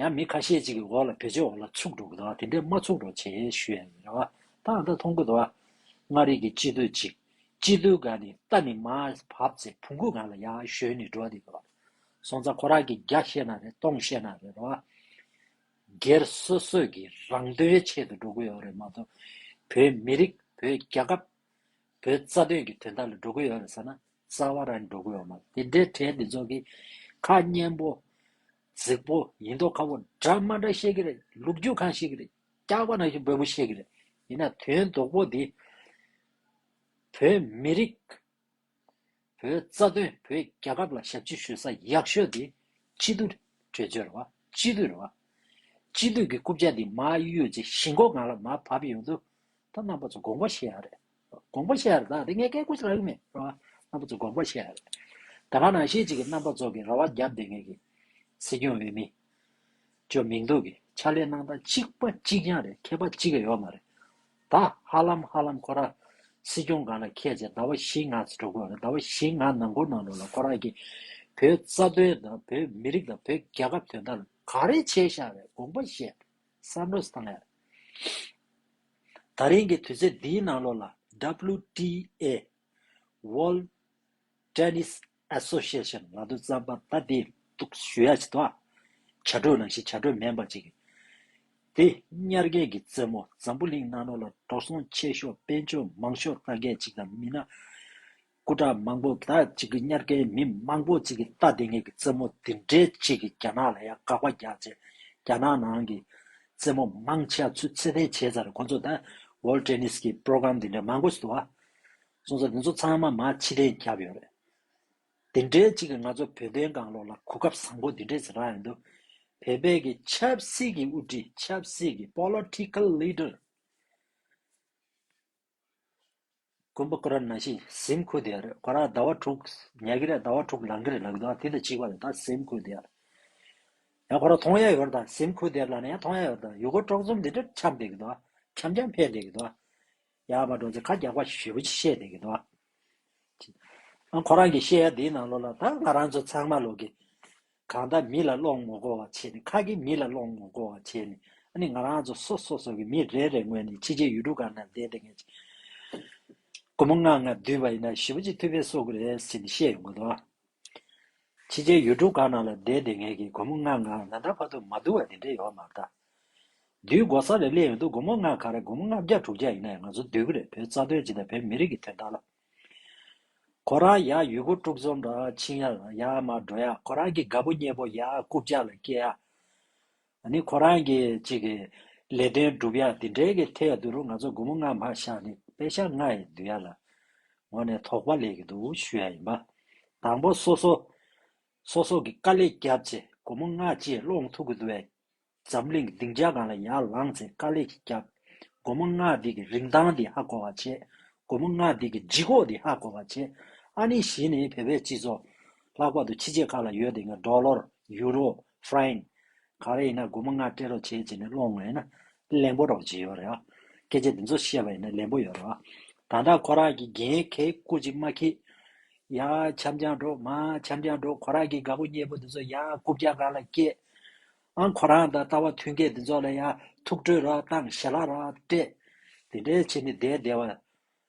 Speaker 1: ཡང་མི་ཁ་ཤས་ཅིག་གི་འོག་ལ་བེད་སྤྱོད་འོག་ལ་ཚུགས་འགྲོ་གི་འདུག་དེ་འདྲས་མ་ཚུགས་རོགས་བྱེད་ཞུ་ཡ་ཡིན་རེད་བ་ད་ང་ད་མཐོང་གི་འདུག་མངའ་རིས་ཀྱི་སྤྱི་འཐུས་ཅིག་སྤྱི་འཐུས་ག་ནི་རྟ་ནི་མ་བབ་ཚེ་བུང་གུ་གང་ལ་ཡག་ཞོན་ནི་འགྲོ་དེ་གི་བ་སོང་ཙང་ཁོ་རག་གི་རྒྱག་ཤེས་ན་རེད་གཏོང་ཤེས་ན་རེད་བ། སྒེར་སོ་སོས་ཀྱི་རང་དོན་ཡའི་ཆེད་དུ་འགྲོ་གི་ཡོག་རེད་མ་ཚོགས་བོད་མི་རིགས་བོད་རྒྱ་ཁབ་བོད་རྩ་དོན་གྱི་དོན་དག་ལ་འགྲོ་གི་ཡོད་རེད་ཟེར་ན་རྩ་བ་རང་འགྲོ་གི་ཡོད་མ་རེད་དེ་འདྲའི་གྲས་འདི་ཚོ་གི་ཁ་སྙན་པོ། རྫིག་པོ་ཡིན་མདོག་ཁ་བོ་འདྲ་མ་འདྲ་བཤད་གི་རེད་ལུག་རྒྱུག་གང་བཤད་གི་རེད་སྐྱག་པ་ནང་བཞིན་འབོད་པོ་བཤད་གི་རེད་ཡིན་ན་དོན་དོག་པོ་འདི། བོད་མི་རིགས། བོད་རྩ་དོན་བོད་རྒྱལ་ཁབ་ལ་ཞབས་ཕྱི་ཞུ་ས་ཡག་ཤོས་དེ་སྤྱི་འཐུས་གྲོས་ཆོད་རེད་བ། སྤྱི་འཐུས་རེད་བ། སྤྱི་འཐུས་ཀྱི་རྐུབ་ཆ་དེ་མ་གཡུག་རྗེས་གཞིས་མགོ་གང་ལ་མ་བབས་ཡོང་དུས་ད་རྣམ་པ་ཚོ་དགོངས་པ་བཞེས་ཡག་རེད། དགོངས་པ་བཞེས་ཡག་རེད་ད་དེ་ངས་སྐད་བསྐུར་ཆ་ལག་གི་མེད་རེད་བ། རྣམ་པ་ཚོ་དགོངས་པ་བཞེས་ཡག་རེད། ད་ག་ནང་ཤེས་གཅིག་གི་རྣམ་པ་ཚོ་གི་ར་བ་རྒྱབ་བསྡད་མཁན་གྱི་སྲིད་སྐྱོང་འོས་མི། བཅོས་མིན་འདུག་གི་ཕྱག་ལས་གནང་སྟངས་གཅིག་པ་གཅིག་རྐྱང་རེད་མཁས་པ་གཅིག་ཡོད་མ་རེད་ད། ཧ་ལམ་ཧ་ལམ་ཁོ་རང་སྲིད་སྐྱོང་གང་ལ་མཁས་ཚེ་ཟླ་བ་བཞི་ལྔ་འགྲོ་དགོས་རེད་ཟླ་བ་བཞི་ལྔ་ནང་འགོར་ནང་འགྲོ་ལ་ཁོ་རང་གིས་བོད་རྩ་དོན་དང་བོད་མི་རིགས་དང་བོད་རྒྱལ་ཁབ་དོན་དག་ལ་ག་རེ་བྱས་ཤག་བའི་དགོངས་པ་བཞེས་བསམ་བློ་བཏང་ཡག་རེད། ད་རིང་གི་དུས་ཚོད་འདིའི་ནང་ལོགས་ལ WTA World Tennis ཨ་སོགས་བཤད་བཤད་ནང་དུ་རྩམ་པ་ལྟ་བུའི་གཏུགས་བཞུ་ཡ་བྱེད་དོ། བྱ་སྒྲོས་ལ་ཞིག་བྱ་སྒྲོས་མེ་འབར་ཅིག། དེ་དམྱལ་རྒན་གྱི་རྩེད་མོ་འཛམ་བུ་གླིང་ནང་ནོར་ལ་འགྲོ་སོང་ཆེ་ཤོག་དཔལ་འབྱོར་མང་ཤོག་རྟ་སྒལ་ཅིག་དང་མི་ནག་སྐུ་དྲག་མང་པོ་དག་ཅིག་གིས་དམྱལ་རྒན་མི་མང་པོ་ཅིག་གིས་རྟ་དེ་ངེད་ཀྱི་རྩེད་མོ་འདི་འདྲའི་ཅིག་གིས་རྒྱ་ནག་ལ་ཡང་དགག་པ་རྒྱག་ཆེད་རྒྱ་ནག་ནང་གི་རྩེད་མོ་མང་ཆེ་བ་ཚུད་ཚད་ལྡན་བྱས་ཚར་རེད་ཁོང་ཚོ་ད World Tennis གི Program འདི་འདྲ་མང་པོ་བྱེད་དོ། གསུང་ས་འདི་ཚོ་ཚང་མ་མ་ཕྱི་རེད་རྒྱབ་ཡོད་རེད། འདི་འདྲའི་ཅིག་གིས་ང་ཚོ་བོད་དོན་གང་ལོག་ལ་གོ་སྐབས་བཟང་པོ་འདི་འདྲས་རག་ཡོད་འདུག་བོད་པའི་གི་ཆབ་སྲིད་ཀྱི་དབུ་ཁྲིད་ཆབ་སྲིད་ཀྱི Political Leader མགོན་པོ་ཀོ་ར་ན་ཤི་གཟིམ་ཁུ་དེ་རེད་གོ་ར་ཟླ་བ་དྲུག་ཉལ་གི་རེད་ཟླ་བ་དྲུག་ལང་གི་རེད་ལབ་གི་འདུག་ཨ་དེ་འདྲ་ཅིག་པ་རེད་ད་གཟིམ་ཁུ་དེ་ཡང་གོ་ར་ཐོང་ཡ་ཡོད་རེད་ད་གཟིམ་ཁུ་དེ་ལ་ན་ཡང་ཐོང་ཡ་ཡོད་རེད་ད་ཡུ་གུར་དཀྲོག་འཛོམས་འདི་འདྲས་འཁྱམས་བསྡད་གི་འདུག་འཁྱམས་འཁྱམས་འཕེལ་བསྡད་གི་འདུག་ཡག་པ་འགྲོ་ཚེ་ཁ་རྒྱག་པ་ཞིག་ཞུས་པ་ཅི་བཤད་དེ་གི་འདུག་ཨ། ཁོ་རང་གི་བཤད་ཡ་དེའི་ནང་ལོགས་ལ་ད་ང་རང་ཚོ་ཚང་མ་ལོག་གི། གང་ལྟར་མི་ལ་བློ་ངོ་དགོ་བ་བྱས་ནས་ཁ་གི་མི་ལ་བློ་ངོ་དགོ་བ་བྱས་ནས་ཨ་ནི་ང་རང་ཚོ་སོ་སོ་སོ་གི་མི་རེ་རེ་ངོས་ནས་ཕྱི་རྗེས་ཡུལ་གྲུ་གང་ན་བསྡད་བསྡད་ངེས་ཅིག། སྒོར་མོ་ལྔ་ལྔ་བསྡུས་པ་ཡིན་ན་ཞི་བ་ཅིག་ཐུབ་པས་གསོག་གི་རེད་ཟེར་ནས་བཤད་ཡོང་གི་འདུག། ཕྱི་རྒྱལ་ཡུལ་གྲུ་གང་ན་ལ་བསྡད་དེ་ངེད་ཀྱི་སྒོར་མོ་ལྔ་ང་ང་འདྲ་ཕ་ཐུག་མ་ཐུག་བ་དེ་འདྲས་ཡོད་མ་རེད་ད། དུས་སྒོ་གསར་རེད་གླེང་ཡོང་དུས་སྒོར་མོ་ལྔ་ག་རེད་སྒོར་མོ་ལྔ་བརྒྱ་དྲུག་བརྒྱ་ཡིན་ན་ཡང་ང་ཚོ་སྡོད་གི་རེད་བོད་རྩ་དོན་སྤྱི་དང་བོད་མི་རིགས་ཀྱི་དོན་དག་ལ། ཁོ་རང་ཡག་ཡུལ་གུར་དཀྲུག་རྩོམ་རང་ཕྱིན་ཡག་ཡག་མར་འགྲོ་ཡག་ཁོ་རང་གི་དགའ་པོ་གཉེན་པོ་ཡག་རྐུབ་བཀྱག་ལ་སྐྱེལ་ཡག། ད་ནི་ཁོ་རང་གི་གཅིག་གི་ལས་དོན་སྒྲུབ་ཡ་དེ་འདྲའི་གི་ཐད་དུ་རུ་ང་ཚོ་དགུ་མོ་ལྔ་མ་ཤག་ནི་དཔེ་ཆ་ལྔ་ཡི་བསྡུ་ཡ་ལ་ངོ་ནས་དོགས་པ་ལས་གི་འདུག་ཞུ་ཡ་ཡིན་པ། དང་པོ་སོ་སོ་སོ་སོ་གི་དཀའ་ལས་བརྒྱབ་ཚེ་དགུ་མོ་ལྔ་བཅས་སློང་ཐུབ་གི་འདུག་བས། འཛམ་གླིང་གི་སྡིངས་ཆ་གང་ལ་ཡར་ལངས་ཚེ་དཀའ་ལས་ཀྱི་བརྒྱབ། དགུ་མོ་ལྔ་འདི་གི་རིན་ཐང་འདི་ཧ་གོ་བ་བྱེད། དགུ་མོ་ལྔ་འདི་གི་ལྗིད་ཁོག་འདི་ཧ་གོ་བ་བྱེད། ཨ་ནི་བཞི་ནི་བོད་པའི་སྤྱི་ཚོགས། ལྷག་པར་དུ་ཕྱི་རྗེས་ཁག་ལ་ཡོད་དེ་ངས་འབྲོག་ལོར་ཡུ་རོ། Frying། ག་རེ་ཡིན་ན་སྒོར་མོ་ལྔ་སྤྲད་རོགས་བྱེད་ཅེས་ནས་སློང་ངོ་ཡིན་ན། ལན་པོ་རོགས་བྱེད་ཡོད་རེད་བ། སྐད་ཆ་འདི་ཚོ་བཤད་པ་ཡིན་ན་ལན་པོ་ཡོད་རེད་བ། ད་ལྟ་ཁོ་རང་གི་རྒན་གེ་སྐུ་གཅིག་མ་ཁེ། ཡ། འཆམ་ཀྱང་འགྲོ། མ། འཆམ་ཀྱང་འགྲོ། ཁོ་རང་གི་དགའ་པོ་མྱེས་པོ་འདི་ཚོ་ཡ། རྐུབ་བཀྱག་ག་ལ་སྐྱེས། ཨང། ཁོ་རང་དང་ལྟ་བ་མཐུན་མཁན་འདི་ཚོ་ལ་ཡ། ཐུགས་ཁྲོས་རོགས་བཏང་ཞེ་ལ་རོགས་སྤྲད། དེ་འདྲའི་ཕྱིར་ནི་བསྡད་བསྡད་བ།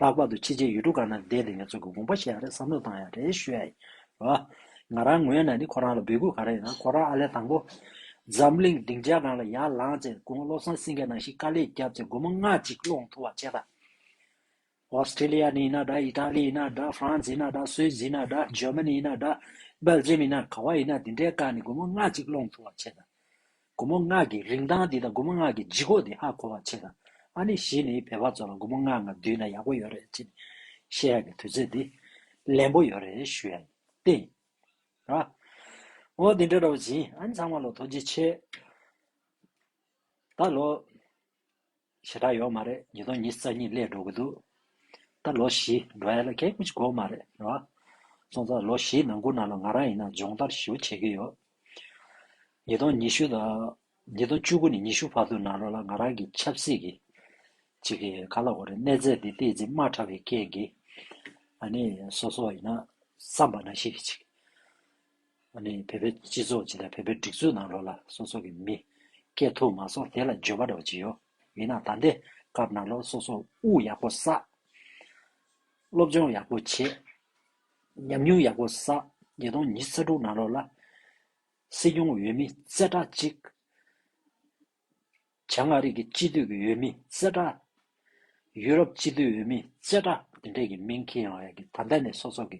Speaker 1: ལྷག་པར་དུ་ཕྱི་ཆའི་ཡུལ་གྲུ་གང་ན་བསྡད་དེ་ངེད་ཚོ་གི་དགོངས་པ་ཤེས་ཡག་རེད་བསམ་བློ་བཏང་ཡག་རེད་ཞུ་ཡག་ཡིན། ཨོ། ང་རང་ངོས་ནས་ནི་ཁོ་རང་ལ་འབོད་སྐུལ་ག་རེ་ཡིན་ན་ཁོ་རང་ཨ་ལས་དང་པོ། འཛམ་གླིང་སྡིངས་ཆའི་སྒང་ལ་ཡར་ལངས་རྗེས་དགུང་བློ་བཟང་སེང་གེ་ནང་བཞིན་དཀའ་ལས་བརྒྱབ་ཚེ་སྒོར་མོ་ལྔ་གཅིག་སློང་ཐུབ་པ་བྱེད། Australia ནས་ཡིན་ན་འདྲ Italy ཡིན་ན་འདྲ France ཡིན་ན་འདྲ Swiss ཡིན་ན་འདྲ Germany ཡིན་ན་འདྲ Belgium ཡིན་ན་ག་བ་ཡིན་ན་དེ་འདྲའི་སྒང་ནས་སྒོར་མོ་ལྔ་གཅིག་སློང་ཐུབ་པ་བྱེད། དགུ་མོ་སྔགས་ཀྱི་རིང་ཐང་འདི་དང་དགུ་མོ་སྔགས་ཀྱི་ལྗིད་ཁོག་འདི་ཧ་གོ་བར་བྱེད། ཨ་ནི་བཞི་ནི་བལ་བ་ཚོ་ལ་དགུ་མོ་སྔགས་འང་བསྡུས་ན་ཡག་པོ་ཡོད་རེད་ཅེས་བཤད་ཡག་གི་དུས་ཚོད་འདི་ལན་པོ་ཡོད་རེད་ཞུ་ཡག་ཡིན། ཨོ་འོ་འདི་འདྲ་རོ་བཞིན་ཨ་ནི་ཚང་མ་ལོ་ཐོ་རྗེ་ཆེ་ད་ལོ། ཞེ་དྲག་ཡོད་མ་རེད་ཉིས་སྟོང་ཉིས་རྩ་གཉིས་སླེབས་འགྲོ་གི་འདུག་ད་ལོ་བཞི་འགྲོ་ཡ་ལ་གད་སྐུ་ཅིག་འགོག་མ་རེད་རེད་བ། སོང་ཙང་ལོ་བཞིའི་ནང་གུ་ན་ལ་ང་རང་ཡིན་ན་སྦྱོང་བརྡར་ཞིའུ་བྱེད་ཀྱི་ཡོད། ཉིས་སྟོང་ཉི་ཤུ་དང། ཉིས་སྟོང་བཅུ་དགུ་ནས་ཉི་ཤུ་བར་དུ་ན་རོ་ལ་ང་རང་གི་ཆབ་སྲིད་ཀྱི། ཅིག་གི་ག་ལ་འོ་རེད་གནས་ཚད་འདི་ལྟའི་འཛིན་མ་ཕྲ་བའི་སྐད་ཀྱིས། ཨ་ནི་སོ་སོ་ཡིན་ན་བསམ་པ་ན་ཤེས་གི་ཅིག། བོད་པའི་སྤྱི་ཚོགས་སྤྱི་དང་བོད་པའི་སྒྲིག་འཛུགས་ནང་ལོགས་ལ་སོ་སོ་གི་མི། སྐད་ཐུག་མ་སོགས་དེ་ལ་འཇོན་པ་འདྲ་བ་ཅི་ཡོད། ཡིན་ན་ད་འདི་སྐབས་ནང་ལོགས་སོ་སོ་དབུ་ཡག་པོ་བསགས། སློབ་སྦྱོང་ཡག་པོ་བྱེད། ཉམས་མྱོང་ཡག་པོ་བསགས་ཉིས་སྟོང་ཉིས་རྩ་དྲུག་ནང་ལོགས་ལ། སྲིད་སྐྱོང་འོས་མི་རྩེ་གྲ་གཅིག། བྱང་མངའ་རིས་ཀྱི་སྤྱི་མཐུས་ཀྱི་འོས་མི་རྩེ་གྲ། ཡུ་རོབ་སྤྱི་མཐུས་འོས་མི་རྩེ་གྲ་འདི་འདྲས་ཀྱི་མིང་གི་ཡང་ཡང་གི་ད་ལྟ་ནས་སོ་སོ་གི་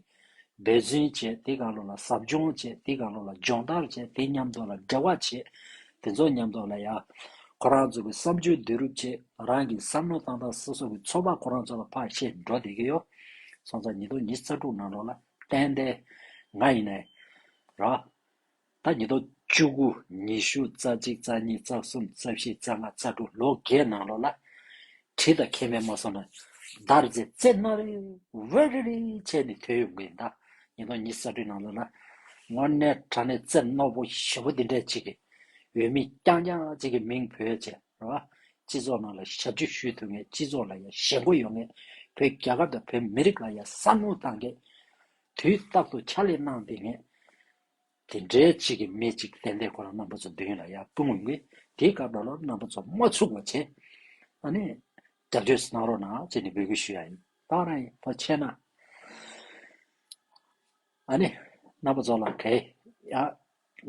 Speaker 1: འབད་བརྩོན་བཅས་དེ་གང་ལོ་ལ་ཟབ་སྦྱོང་བཅས་དེ་གང་ལོ་ལ་སྦྱོང་བརྡར་བཅས་དེ་མཉམ་དུ་ལ་འབྲེལ་བ་བྱས་དེ་ཚོ་མཉམ་དུ་ལ་ཡ། ཁོ་རང་ཚོ་གི་བསམ་སྤྱོད་བསྡུས་རུབ་བཅས་རང་གི་བསམ་བློ་བཏང་སྟངས་སོ་སོ་གི་ཚོགས་པ་ཁོ་རང་ཚོ་ལ་ཕར་ཤེས་འགྲོ་བསྡད་ཀྱི་ཡོད། སོང་ཙང་ཉིས་སྟོང་ཉིས་རྩ་དྲུག་ནང་ལོ་ལ་ཏན་ཏན་ང་ཡིན་ནའི་ར། ཟླ་ཉི་ལོ་བཅུ་དགུ་ཉི་ཤུ་རྩ་གཅིག་རྩ་གཉིས་རྩ་གསུམ་རྩ་བཞི་རྩ་ལྔ་རྩ་དྲུག་ལོ་བརྒྱའི་ནང་ལོགས་ལ། གྲི་དང་མཁལ་མའི་མ་སོང་ན། མདའ་རེ་རྩེ་རྩེ་རྣ་རེ་ཝེར་རེ་རེ་བྱས་ནས་དོན་ཡོང་གི་འདའ། ཉིས་སྟོང་ཉིས་ས་དྲུག་ནང་ལོགས་ལ། ངོ་ནས་དྲ་གནས་རྩེ་རྣོ་པོ་བཞི་པོ་འདི་འདྲས་ཅིག་གིས། འོས་མི་རྐྱང་རྐྱང་གཅིག་གི་མིང་བོད་བཅས་རེད་བ། སྤྱི་ཚོགས་ནང་ལ་ཞབས་ཕྱི་ཞུས་ཐུབ་ངེས་སྤྱི་ཚོགས་ལ་ཡང་ཞེན་ཁོ་ཡོང་ངེས། བོད་རྒྱལ་ཁབ་དང་བོད་མི་རིགས་ལ་ཡང་བསམ་བློ་གཏང་ངེས། དུས་རྟག་ཏུ་ཕྱག་ལས་གནང་བསྡད་ངེས། དེ་འདྲའི་གཅིག་གིས་སྨད་ཅིག་བསྟན་དེ་ཁོ་རང་རྣམ་པ་ཚོ་མདུན་ལ་ཡར་ལྟུང་འོང་གི་དེའི་སྐབས་ལ་ལོར་རྣམ་པ་ཚོ་མ་ཚུགས་བར་བྱས་ཨ་ནི། རྒྱབ་གཅོད་གནང་རོགས་གནང་ཅེས་ནི་འབོད་སྐུལ་ཞུ་ཡ་ཡིན་ད་རང་ཡིན་ཕ་ཆད་ན། ཨ་ནི། རྣམ་པ་ཚོ་ལ་གས་ཡ།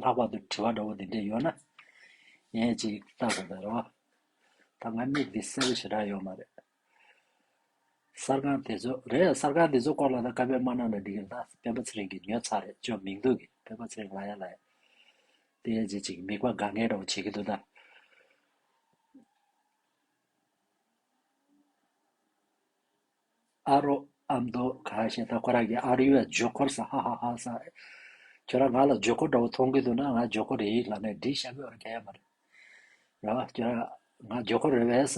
Speaker 1: ལྷག་པར་དུ་དྲི་བ་འདྲ་བོ་འདི་འདྲས་ཡོད་ན། ངས་ཅིག་བལྟ་དགོས་པའི་རེ་བ། ད་ང་མིག་འདི་གསལ་པོ་ཞེ་དྲག་ཡོད་མ་རེད། གསར་ཁང་དེ་ཚོ་རེད་གསར་ཁང་དེ་ཚོ་སྐོར་ལ་ད་བཀའ་པད་མ་གནང་ན་འགྲིག་གི་མ་རེད་ད་བན་པོ་ཚེ་རིང་གི་ཉོས་ཚར་རེད་ཅོ་མིང་འདུག་གི་བན་པོ་ཚེ་རིང་ལ་ཡ་ལ་ཡ་དེ་ཡ་ཇེ་ཅིག་མིག་པ་དགའ་ངན་རོགས་བྱེད་གི་འདུག་ད། ཨ་རོ་ཨ་མདོ་ག་ཞེས་ད་ཁོ་རང་གི་ཨར་ཡོད་ཇོ་ཁོར་ས་ཧ་ཧ་ཧ་ས་ཁྱོད་རང་ང་ལ་ཇོ་ཁོ་འདྲ་བོ་མཐོང་གི་འདུག་ན་ང་ཇོ་ཁོ་རེད་ལ་ནས་འདྲི་ཞབས་ཡོད་ར་ག་ཡ་མ་རེད་རེད་བ་ཁྱོད་རང་ང་ཇོ་ཁོ་རེད་བས་ས་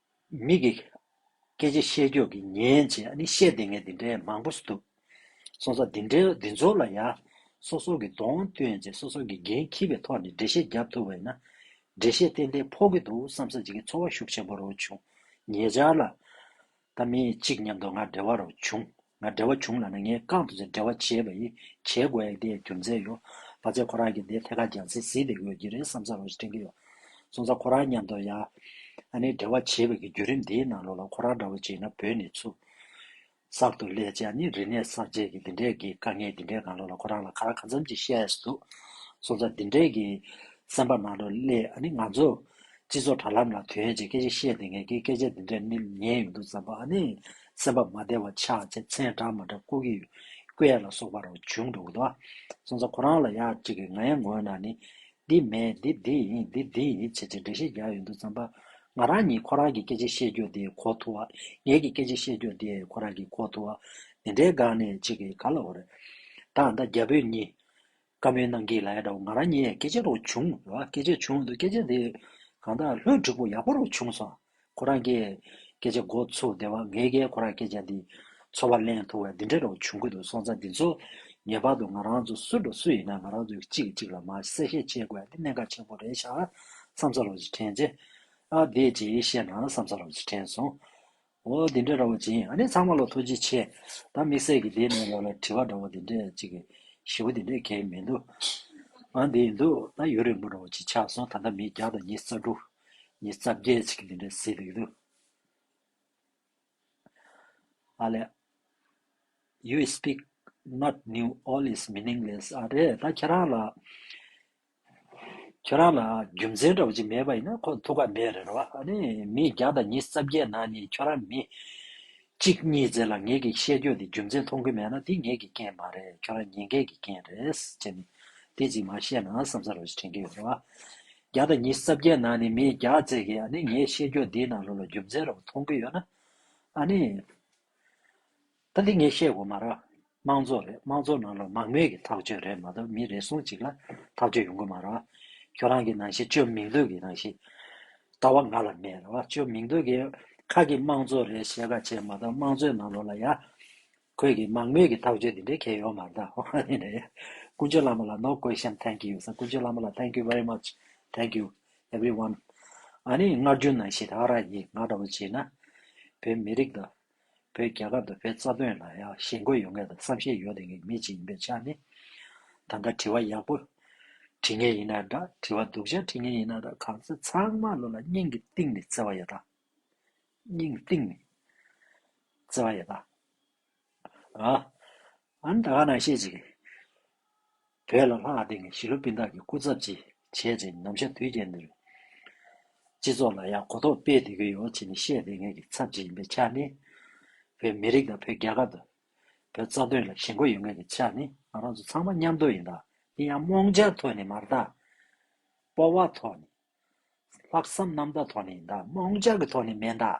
Speaker 1: མིག་གིས། སྐད་ཅིག་ཤེས་སྐྱོ་གིས་ཉན་བྱས་ནི་བཤད་དེ་ངས་འདི་འདྲའི་མང་པོ་འདུག། སོ་སོ་འདི་འདྲའི་འདི་ཚོ་ལ་ཡ། སོ་སོ་གི་གདོང་སྟོན་བྱས་སོ་སོ་གི་འགན་འཁྱིལ་བའི་ཐོག་ནས་འགྲེལ་བཤད་རྒྱབ་ཐུབ་པ་ཡིན་ན། འགྲེལ་བཤད་ཏན་ཏན་ཕོག་གི་འདུག་བསམ་བསམ་བྱེད་ཀྱི་ཚོར་བ་ཤུགས་ཆེན་པོ་རོ་བྱུང། ཉེ་ཆར་ལ། ད་མི་གཅིག་མཉམ་དུ་ང་འབྲེལ་བ་རོ་བྱུང། ང་བྲེལ་བ་བྱུང་ལ་ན་ངའི་རྐང་དུ་ཚེ་བྲེལ་བ་བྱེད་པ་ཡིས་བྱེད་དགོས་ཡག་དེ་རྒྱུ་མཚན་ཡོད་པ་ཚེ་ཁོ་རང་གི་དེ་ཐད་ཀར་རྒྱང་ཚེ་བཟི་དེ་དགོས་ཀྱི་རེད་བསམ་ས་རོགས་ཞེས་དྲན་གྱི་ཡོད། སོང་ཙང་ཁོ་རང་མཉམ་དུ་ཡ། ཨ་ནེ་བྲེལ་བ་བྱེད་པའི་གི་བརྒྱུད་རིམ་དེའི་ནང་ལོགས་ལ་ཁོ་རང་འདྲ་བོ་བྱས་ན་བོད་ནས་ཆུ། གསར་དུ་ལས་བྱས་ནི་རིག་གནས་གསར་བརྗེས་ཀྱི་འདི་འདྲས་ཀྱི་དཀའ་ངལ་འདི་འདྲས་གང་ལོགས་ལ་ཁོ་རང་ལ་ག་ར་ག་འཚམ་གྱི་བཤད་འདུག་སོང་ཙང་འདི་འདྲས་ཀྱི་སེམས་པ་ནང་ལོགས་ལས་ཨ་ནེ་ང་ཚོ། སྤྱི་ཚོགས་དྲ་ལམ་ལ་དོན་གྱི་སྐད་ཆ་བཤད་དེ་ངས་ཀྱི་སྐད་ཆ་འདི་འདྲས་ནི་ཉན་ཡོད་འདུག་བསམ་པ་ཨ་ནེ། སེམས་པ་མ་བདེ་བ་ཆགས་ཚེ་ཚེས་གྲངས་མ་འདྲ་ཀུ་ཀི་ཀའེ་ལ་སོགས་པ་རང་བྱུང་འགྲོ་གི་འདུག་སོང་ཙང་ཁོ་རང་ལ་ཡག་ཅིག་གི་ངའི་ངོ་ན་ནི་འདི་མེད་འདི་འདི་ཡིན་འདི་འདི་ཡིན་བྱས་བྱས་འགྲེལ་བཤད་རྒྱག་ཡོད་འདུག་བསམ་པ། ང་རང་ཉིད་ཁོ་རང་གི་སྐད་ཆ་བཤད་རྒྱུ་དེ་གོ་ཐུབ་བ་ངེད་ཀྱི་སྐད་ཆ་བཤད་རྒྱུ་དེ་ཁོ་རང་གི་གོ་ཐུབ་བ། འདི་འདྲའི་སྒང་ནས་ཅིག་གིས་ག་ལ་འོ་རེད། ད་ཨ་མདའ་རྒྱ་བོད་གཉིས། བཀའ་མོལ་གནང་གི་ལ་ཡ་འདྲ་བོ་ང་རང་ཉིད་ཡས་སྐད་ཆ་རོ་བྱུང་རེད་བ་སྐད་ཆ་བྱུང་འདུག་སྐད་ཆ་དེ་གང་དག་ལྷོད་འགྲིག་པོ་ཡག་པོ་རོ་བྱུང་སོང་ཁོ་རང་གིས་སྐད་ཆ་འགོ་ཚུགས་དེ་བ་ངའི་གིས་ཁོ་རང་སྐད་ཆ་འདི་ཚོ་བ་གླེང་ཐུབ་བས་འདི་འདྲ་རོ་བྱུང་གི་འདུག་སོང་ཙང་འདི་ཚོ་ངེས་པར་དུ་ང་རང་ཚོ་སུ་འགྲོ་སུ་ཡིན་ན་ང་རང་ཚོ་གཅིག་གིས་གཅིག་ལ་མ་གསལ་བཤད་བྱེད་དགོས་འདི་གནད་འགག་ཆེན་པོ་རེད་ཤག་བསམ་ས་རོ་ཞེས་དྲན་རྗེས་ཨ་བདེ་ཅེས་བཤད་ན་བསམ་ས་རོ་ཞེས་དྲན་སོང། འོ་དེ་འདྲ་ར་བ་ཅན་ཨ་ནི་ཚང་མ་ལ་ཐུགས་རྗེ་ཆེ། ད་དམིགས་བསལ་གྱི་དེ་ནས་ལ་ལ་དྲི་བ་འདྲ་བོ་དེ་འདྲ་ཅིག་གི་ཞི་བོ་དེ་འདྲ་གལ་མི་འདུག་ཨང་དེ་ཡིན་འདུག་ད་ཡུན་རིང་པོ་ར་བ་ཅིག་ཆགས་སོང་ད་ལྟ་མི་བརྒྱ་དང་ཉིས་རྩ་དྲུག་ཉིས་རྩ་བརྒྱད་ཅིག་གི་དེ་འདྲ་ཟིག་འདུག་ཨ་ལས། You speak not new all is meaningless ཨ་རེད་ད་ཁྱེད་རང་ལ་ཁྱོད་རང་ལ་རྒྱུ་མཚན་འདྲ་བོ་ཅིག་མེད་པ་ཡིན་ན་ཁོ་ཐུགས་ཁག་མེད་རེད་རོ། ཨ་ནི་མི་བརྒྱ་དང་ཉིས་རྩ་བརྒྱད་ནང་ནས་ཁྱོད་རང་མི། གཅིག་གཉིས་ཙེ་ལ་ངེད་ཀྱི་བཤད་རྒྱུ་དེ་རྒྱུ་མཚན་མཐོང་གི་མེད་ན་དེ་ངེད་ཀྱི་རྐྱེན་མ་རེད་ཁྱོད་རང་ཉེས་འགལ་གྱི་རྐྱེན་རེད། ཅེས་ནས་དེ་ཅིག་མ་བཤད་ན་བསམ་ས་རེད་བཞིན་དྲན་གྱི་ཡོད་རེད། བརྒྱ་དང་ཉིས་རྩ་བརྒྱད་ནང་ནས་མི་བརྒྱ་ཙེ་གིས་ཨ་ནི་ངའི་བཤད་རྒྱུ་འདིའི་ནང་ལོགས་ལ་རྒྱུ་མཚན་ར་བོ་མཐོང་གི་ཡོད་ན། ཨ་ནི། ད་འདི་ངས་བཤད་དགོས་མ་རེད། དམངས་གཙོ་རེད་དམངས་གཙོ་ནང་ལ་མང་མོས་ཀྱི་ཐག་གཅོད་རེད་མ་གཏོགས་མི་རེ་ཟུང་ཅིག་ལ་ཐག་གཅོད་ཡོང་གི་མ་རེད། ཁྱོད་རང་གི་ནང་བཞིན་བཅོས་མིང་འདོད་ཀྱི་ནང་བཞིན་ལྟ་བ་ང་ལ་མེད་རེད། བཅོས་མིང་འདོད་ཀྱི་ཁ་ཀྱི་དམངས་གཙོ་རེད་བཤད་ཁ་བྱས་མ་གཏོགས་དམངས་གཙོའི་ནང་ལོགས་ལ་ཡ། ཁོས་ཀྱི་མང་མོས་ཀྱི་ཐག་གཅོད་འདི་འདྲའི་ཁྱད་ཡོད་མ་རེད། ཧོ་ཧ་ནི་ནི། ཀུན་སྤྱོད་བླ་མ་ལ no question thank you སེ་ཀུན་སྤྱོད་བླ་མ་ལ thank you very much thank you everyone ཨཱ་ནི་སྔར་རྒྱུན་ནང་བཞིན་ར་ར་ཡིན་ང་ལྟ་བུ་བྱས་ན་བོད་མི་རིགས་དང། བོད་རྒྱ་གར་དུ་བོད་རྩ་དོན་ལ་ཡང་ཞེན་དགོས་ཡོད་ངེས་དང་བསམ་ཤེས་ཡོད་ངེས་མི་གཅིག་ཡིན་པའི་ཆ་ནས། ད་ལྟ་དྲི་བ་ཡག་པོ་དྲིས་ངེས་ཡིན་ན་འདྲ་དྲི་བ་སྡུག་ཅན་དྲིས་ངེས་ཡིན་ན་འདྲ་གང་ཚེ་ཚང་མ་བློ་ལ་སྙིང་གི་གཏིང་ནས་བརྩེ་བ་ཡོད་ད། སྙིང་གཏིང་ནས་བརྩེ་བ་ཡོད་ད། ཨ། ཨ་ནི་ད་ག་ནང་ཤེས་ཅིག། བོད་ལ་ལྷག་སྟེང་གི་གཞིས་ལུས་སྤུན་ཟླ་གི་སྐུ་ཚབ་ཅིག་བྱས་ཚེ་ནམ་ཞར་དུས་རྒྱལ་འདིར། སྤྱི་ཚོགས་ལ་ཡང་གོ་རྟོགས་སྤེལ་སྡོད་ཀྱི་ཡོད་ཅེས་ནི་བཤད་བསྡད་མཁན་གྱི་ཚབ་ཅིག་ཡིན་པའི་ཆ་ནས། བོད་མི་རིགས་དང་བོད་རྒྱལ་ཁབ་དང། བོད་རྩ་དོན་ལ་ཞེན་ཁོག་ཡོད་མཁན་གྱི་ཆ་ནས་ང་རང་ཚོ་ཚང་མ་མཉམ་འདུག་ཡིན་དང་དེ་ཡང་རྨོངས་འཆར་ཐོག་ནས་མར་དང། སྤོབས་བ་ཐོག་ནས། ལྷག་བསམ་རྣམ་དག་ཐོག་ནས་ཡིན་དང་རྨོངས་འཆར་གྱི་ཐོག་ནས་མེད་དང།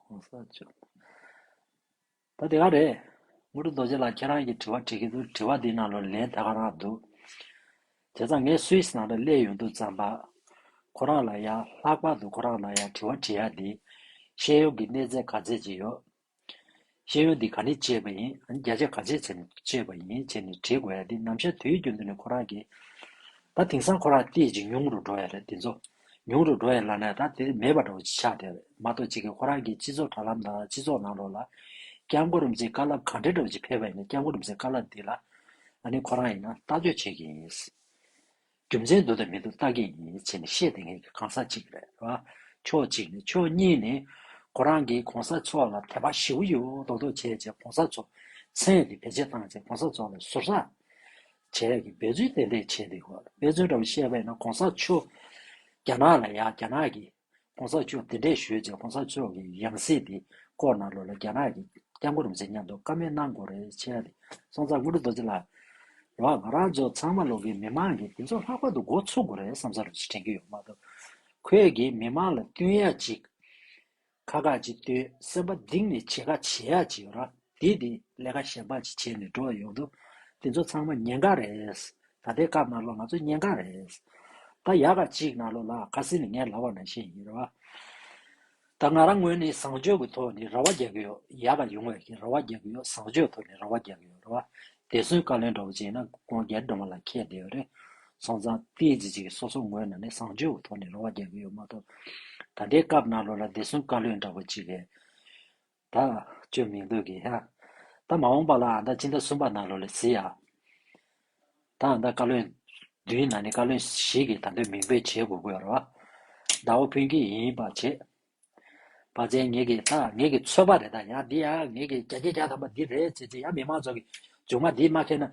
Speaker 1: གོང་ས་མཆོག། ད་དེ་ག་རེད། དངོས་གྲུབ་རྡོ་རྗེ་ལགས་ཁྱེད་རང་གིས་དྲི་བ་དྲི་གི་འདུག་དྲི་བ་འདིའི་ནང་ལོ་ལན་ད་ག་རང་འདུག། དེ་ཚ་ངས Swiss ནང་ལ་གླས་ཡོང་འདུག་ཙམ་པ། ཁོ་རང་ལ་ཡང་ལྷག་པར་དུ་ཁོ་རང་ལ་ཡང་དྲི་བ་དྲི་ཡ་འདི། ཤེས་ཡོན་གྱི་གནས་ཚད་ག་ཚད་ཅིག་ཡོད། ཤེས་ཡོན་འདི་ག་ནས་སྤྱད་པ་ཡིན་རྒྱ་ཆ་ག་ཆད་བྱས་ནས་སྤྱད་པ་ཡིན་བྱས་ནས་དྲིས་དགོས་ཡ་འདི་ནམ་ཞར་དུས་རྒྱུན་དུ་ནས་ཁོ་རང་གིས། ད་དེང་སང་ཁོ་རང་སྐད་ཅིག་ཉུང་རུ་འགྲོ་ཡ་རེད་འདི་ཚོ། ཉུང་རུ་འགྲོ་ཡ་ལ་ནས་ད་དེ་མེད་པ་འདྲ་བོ་ཆགས་བསྡད་རེད་མ་གཏོགས་སྤྱི་ཁས་ཁོ་རང་གིས་སྤྱི་ཚོགས་དྲ་ལམ་དང་སྤྱི་ཚོགས་ནང་རོགས་ལ། སྐྱབས་མགོ་རུམ་ཚའི་དཀའ་རླབས་གང་དྲན་འདྲ་བོ་ཅིག་འཕེལ་བ་ཡིན་ན་སྐྱབས་མགོ་རུམ་ཚའི་དཀའ་རླབས་འདི་ལ། ཨ་ནི་ཁོ་རང་ཡིན་ན་ལྟ་ཚོད་བྱེད་ཀྱི་ཡིན། རྒྱུ་མཚན་འདུག་དང་མི་འདུག་བརྟག་གི་ཡིན་བྱས་ནས་བཤད་དེ་ངེས་ཀྱི་གང་ཟག་ཅིག་རེད་བ། ཕྱོགས་གཅིག་ནས་ཕྱོགས་གཉིས་ནས། ཁོ་རང་གིས་གོང་ས་མཆོག་ལ་དད་པ་ཞི་བོ་ཡོད་འོ་དོག་དོག་བྱས་བྱས་གོང་ས་མཆོག་མཚན་དེ་བེད་སྤྱད་བཏང་བྱས་གོང་ས་མཆོག་ལ་ཟུར་ཟ་བྱས་ཀྱི་འབད་བརྩོན་ཏན་ཏན་བྱས་འདུག་གོ་འབད་བརྩོན་འདྲ་བོ་བཤད་པས་ན་གོང་ས་མཆོག་རྒྱ་ནག་ལ་ཡག་རྒྱ་ནག་གིས་གོང་ས་མཆོག་དེ་འདྲས་ཞུས་རྗེས་གོང་ས་མཆོག་གི་ཡང་སྲིད་དེ་བསྐོར་ནང་ལོག་ལ་རྒྱ་ནག་གི་སྐྱབས་མགོ་རུ་འཛིན་སྙམ་དུ་བཀའ་མོལ་གནང་དགོས་རེད་ཆེ་ལ། སོང་ཙང་དངོས་གྲུབ་རྡོ་རྗེ་ལགས། ལགས་ང་རང་ཚོ་ཚང་མ་ལོག་གི་མི་མང་གིས་འདི་ཚོ་ལྷག་པར་དུ་འགོ་ཚུགས་དགོས་རེད་བསམ་ས་རེད་ཅེས་དྲན་གྱི་ཡོད་མ་གཏོགས། ཁོས་གིས་མི་མང་ལ་བསྟུན་ཡ་གཅིག། ཁ་ཁ་གཅིག་བསྟུན་སེམས་པ་གདིང་ནས་བྱེད་ཁ་བྱེད་ཡ་གཅིག་ཡོད་ར། དེས་དེ་ལས་ཀ་ཞན་པ་ཅིག་བྱས་ནས་འགྲོ་ཡོང་དུས། དེ་ཚོ་ཚང་མ་ཉེན་ཁ་རེད། ད་ལྟའི་སྐབས་ནཱ་ལོ་ང་ཚོ་ཉེན་ཁ་རེད། ད་ཡག་ག་ཅིག་ནཱ་ལོ་ལགས་ཁ་སི་ནི་ངའི་ལྭ་བ་ནང་བཞིན་ཡིན་རེད་བ། ད་ང་རང་ངོས་ནས་བཟང་སྤྱོད་ཀྱི་ཐོག་ནས་ར་བ་རྒྱག་གི་ཡོད་ཡག་ག་ཡོང་བའི་གི་ར་བ་རྒྱག་གི་ཡོད་བཟང་སྤྱོད་ཐོག་ནས་ར་བ་རྒྱག་གི་ཡོད་རེད་བ། དེ་སུན་བཀའ་ལན་འདྲ་བོ་བྱས་ན་ཁོང་རྒྱལ་འབྲོང་བ་ལ་ཁྱད་བདེ་བ་རེད། སོང་ཙང་ཏིས་ཅི་ཅིག་གི་སོ་སོ་ངོས་ནང་ནས་བཟང་སྤྱོད་ཀྱི་ཐོག་ནས་ར་བ་རྒྱག་གི་ཡོད་མ་གཏོགས། ད་ལྟའི་སྐབས་ནཱ་ལོ་ལ་དེ་སུན་བཀའ་ལོན་འདྲ་བོ་ཅིག་གས། ད་བཅོས་མིང་འདོད་ཀྱི་ཧ། ད་མ་འོངས་པ་ལ་ཨ་མདའ་སྤྱི་ཟླ་གསུམ་པ་ན་ལོ་ལེགས་བཟི་ཡ། ད་ཨ་མདའ་བཀའ་བློན། བདུན་ན་ནི་བཀའ་བློན་ཞིག་གིས་ད་འདོད་མིང་འབོད་བྱེད་དགོས་དགོས་ར། ད་བ་ཕུན་སྐྱིད་ཡིན་པ་བྱེད། བ་བཙན་ངེད་ཀྱི་ད་ངེད་ཀྱི་ཚོད་པ་རེད་ད་ཡ་འདི་ཡ་ངེད་ཀྱི་རྒྱ་རྒྱ་རྒྱ་དམ་པ་འདི་རེད་ཅེས་ཅེས་ཡ་མི་མང་ཚོགས་ཀྱི་མཇུག་མ་འདི་སྨྲ་མཁན་ན་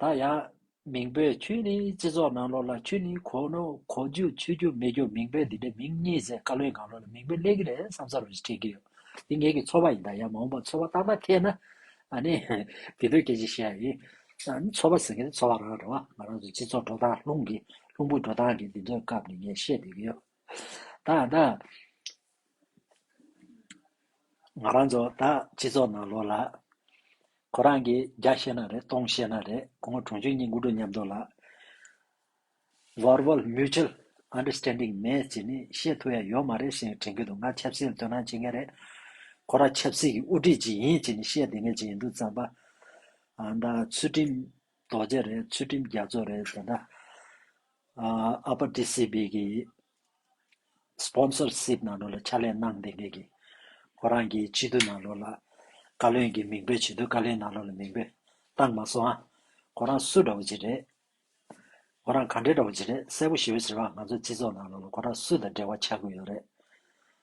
Speaker 1: ད་ཡང། མིང་བོད་ཆོས་ནི་སྤྱི་ཚོགས་ནང་ལོགས་ལ་ཆོས་ནི་གོ་ནོར་གོ་རྒྱུ་ཆོས་རྒྱུ་མེད་རྒྱུ་མིང་བོད་འདི་འདྲའི་མིང་གཉིས་ཟེར་དཀའ་ལོའི་སྒང་ལོགས་ལ་མིང་བོད་གླེང་གི་རེད་བསམ་ས་རུང་ཞིག་དྲན་གི་ཡོད། འདི་ངེད་ཀྱི་ཚོར་བ་ཡིན་ད་ཡང་མ་འོངས་པར་ཚོར་བ་སྟག་མ་ཐེག་ན། ཨ་ནི། དེ་དུས་སྐད་ཆ་བཤད་ཡ་ཡིན། ཚོར་བ་ཟེར་མཁན་དེ་ཚོར་བ་རང་རེད་བ། ང་རང་ཚོའི་སྤྱི་ཚོགས་འགྲོ་སྟངས་ལྷུང་གི་ལྷུང་པོ་འགྲོ་སྟངས་ཀྱི་འདི་ཚོའི་སྐབས་ནས་ངས་བཤད་བསྡད་ཀྱི་ཡོད། ད་ཡང་ན། ང་རང་ཚོ་ད་སྤྱི་ཚོགས་ནང་ལོག་ལ། ཁོ་རང་གིས་བརྒྱ་བཤད་ན་རེད་སྟོང་བཤད་ན་རེད་ཁོ་མོ་གྲོང་ཆོས་གཉིས་མགོ་འགྲོ་མཉམ་འགྲོ་ལ། Verbal Mutual Understanding མེད་ཅེས་ནི་བཤད་ཐུབ་ཡ་ཡོད་མ་རེད་ཞེས་དྲན་གྱི་འདུག་ང་ཆབ་སྲིད་ལ་དོན་སྣང་བྱེད་མཁན་རེད། ཁོ་རང་ཆབ་སྲིད་ཀྱི་དབུ་ཁྲིད་ཅིག་ཡིན་ཅེས་ནི་བཤད་བསྡད་མཁན་ཅིག་ཡིན་འདུག་རྩམ་པ། ཨ་མདའ་ཚུལ་ཁྲིམས་རྡོ་རྗེ་རེད་ཚུལ་ཁྲིམས་རྒྱ་མཚོ་རེད་དེ་འདྲ། Upper DCB ཀྱི Sponsor Ship ནང་ལོགས་ལ་ཕྱག་ལས་གནང་མཁན་གྱི་ཁོ་རང་གི་སྤྱི་འཐུས་ནང་ལོགས་ལ་བཀའ་བློན་གྱི་མིང་འབོད་བྱེད་དུས་བཀའ་བློན་ནང་ལོགས་ལ་མིང་འབོད་བཏང་མ་སོང་ཨ། ཁོ་རང་སུ་འདྲ་བོ་ཅིག་རེད། ཁོ་རང་ག་འདྲ་འདྲ་བོ་ཅིག་རེད་གསལ་པོ་ཞུ་བའི་ཕྱིར་བ་ང་ཚོ་སྤྱི་ཚོགས་ནང་ལོགས་ལ་ཁོ་རང་སུ་དང་འབྲེལ་བ་ཆགས་དགོས་ཡོད་རེད།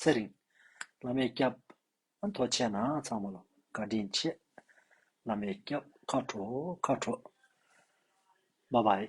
Speaker 1: ཚེ་རིང། བླ་མའི་སྐྱབས། མཐོ་ཆེ་ན་ཚང་མ་ལ་བཀའ་དྲིན་ཆེ། བླ་མའི་སྐྱབས། ཁ་དྲོ་ཁ་དྲོ། བྷ་བྷའི།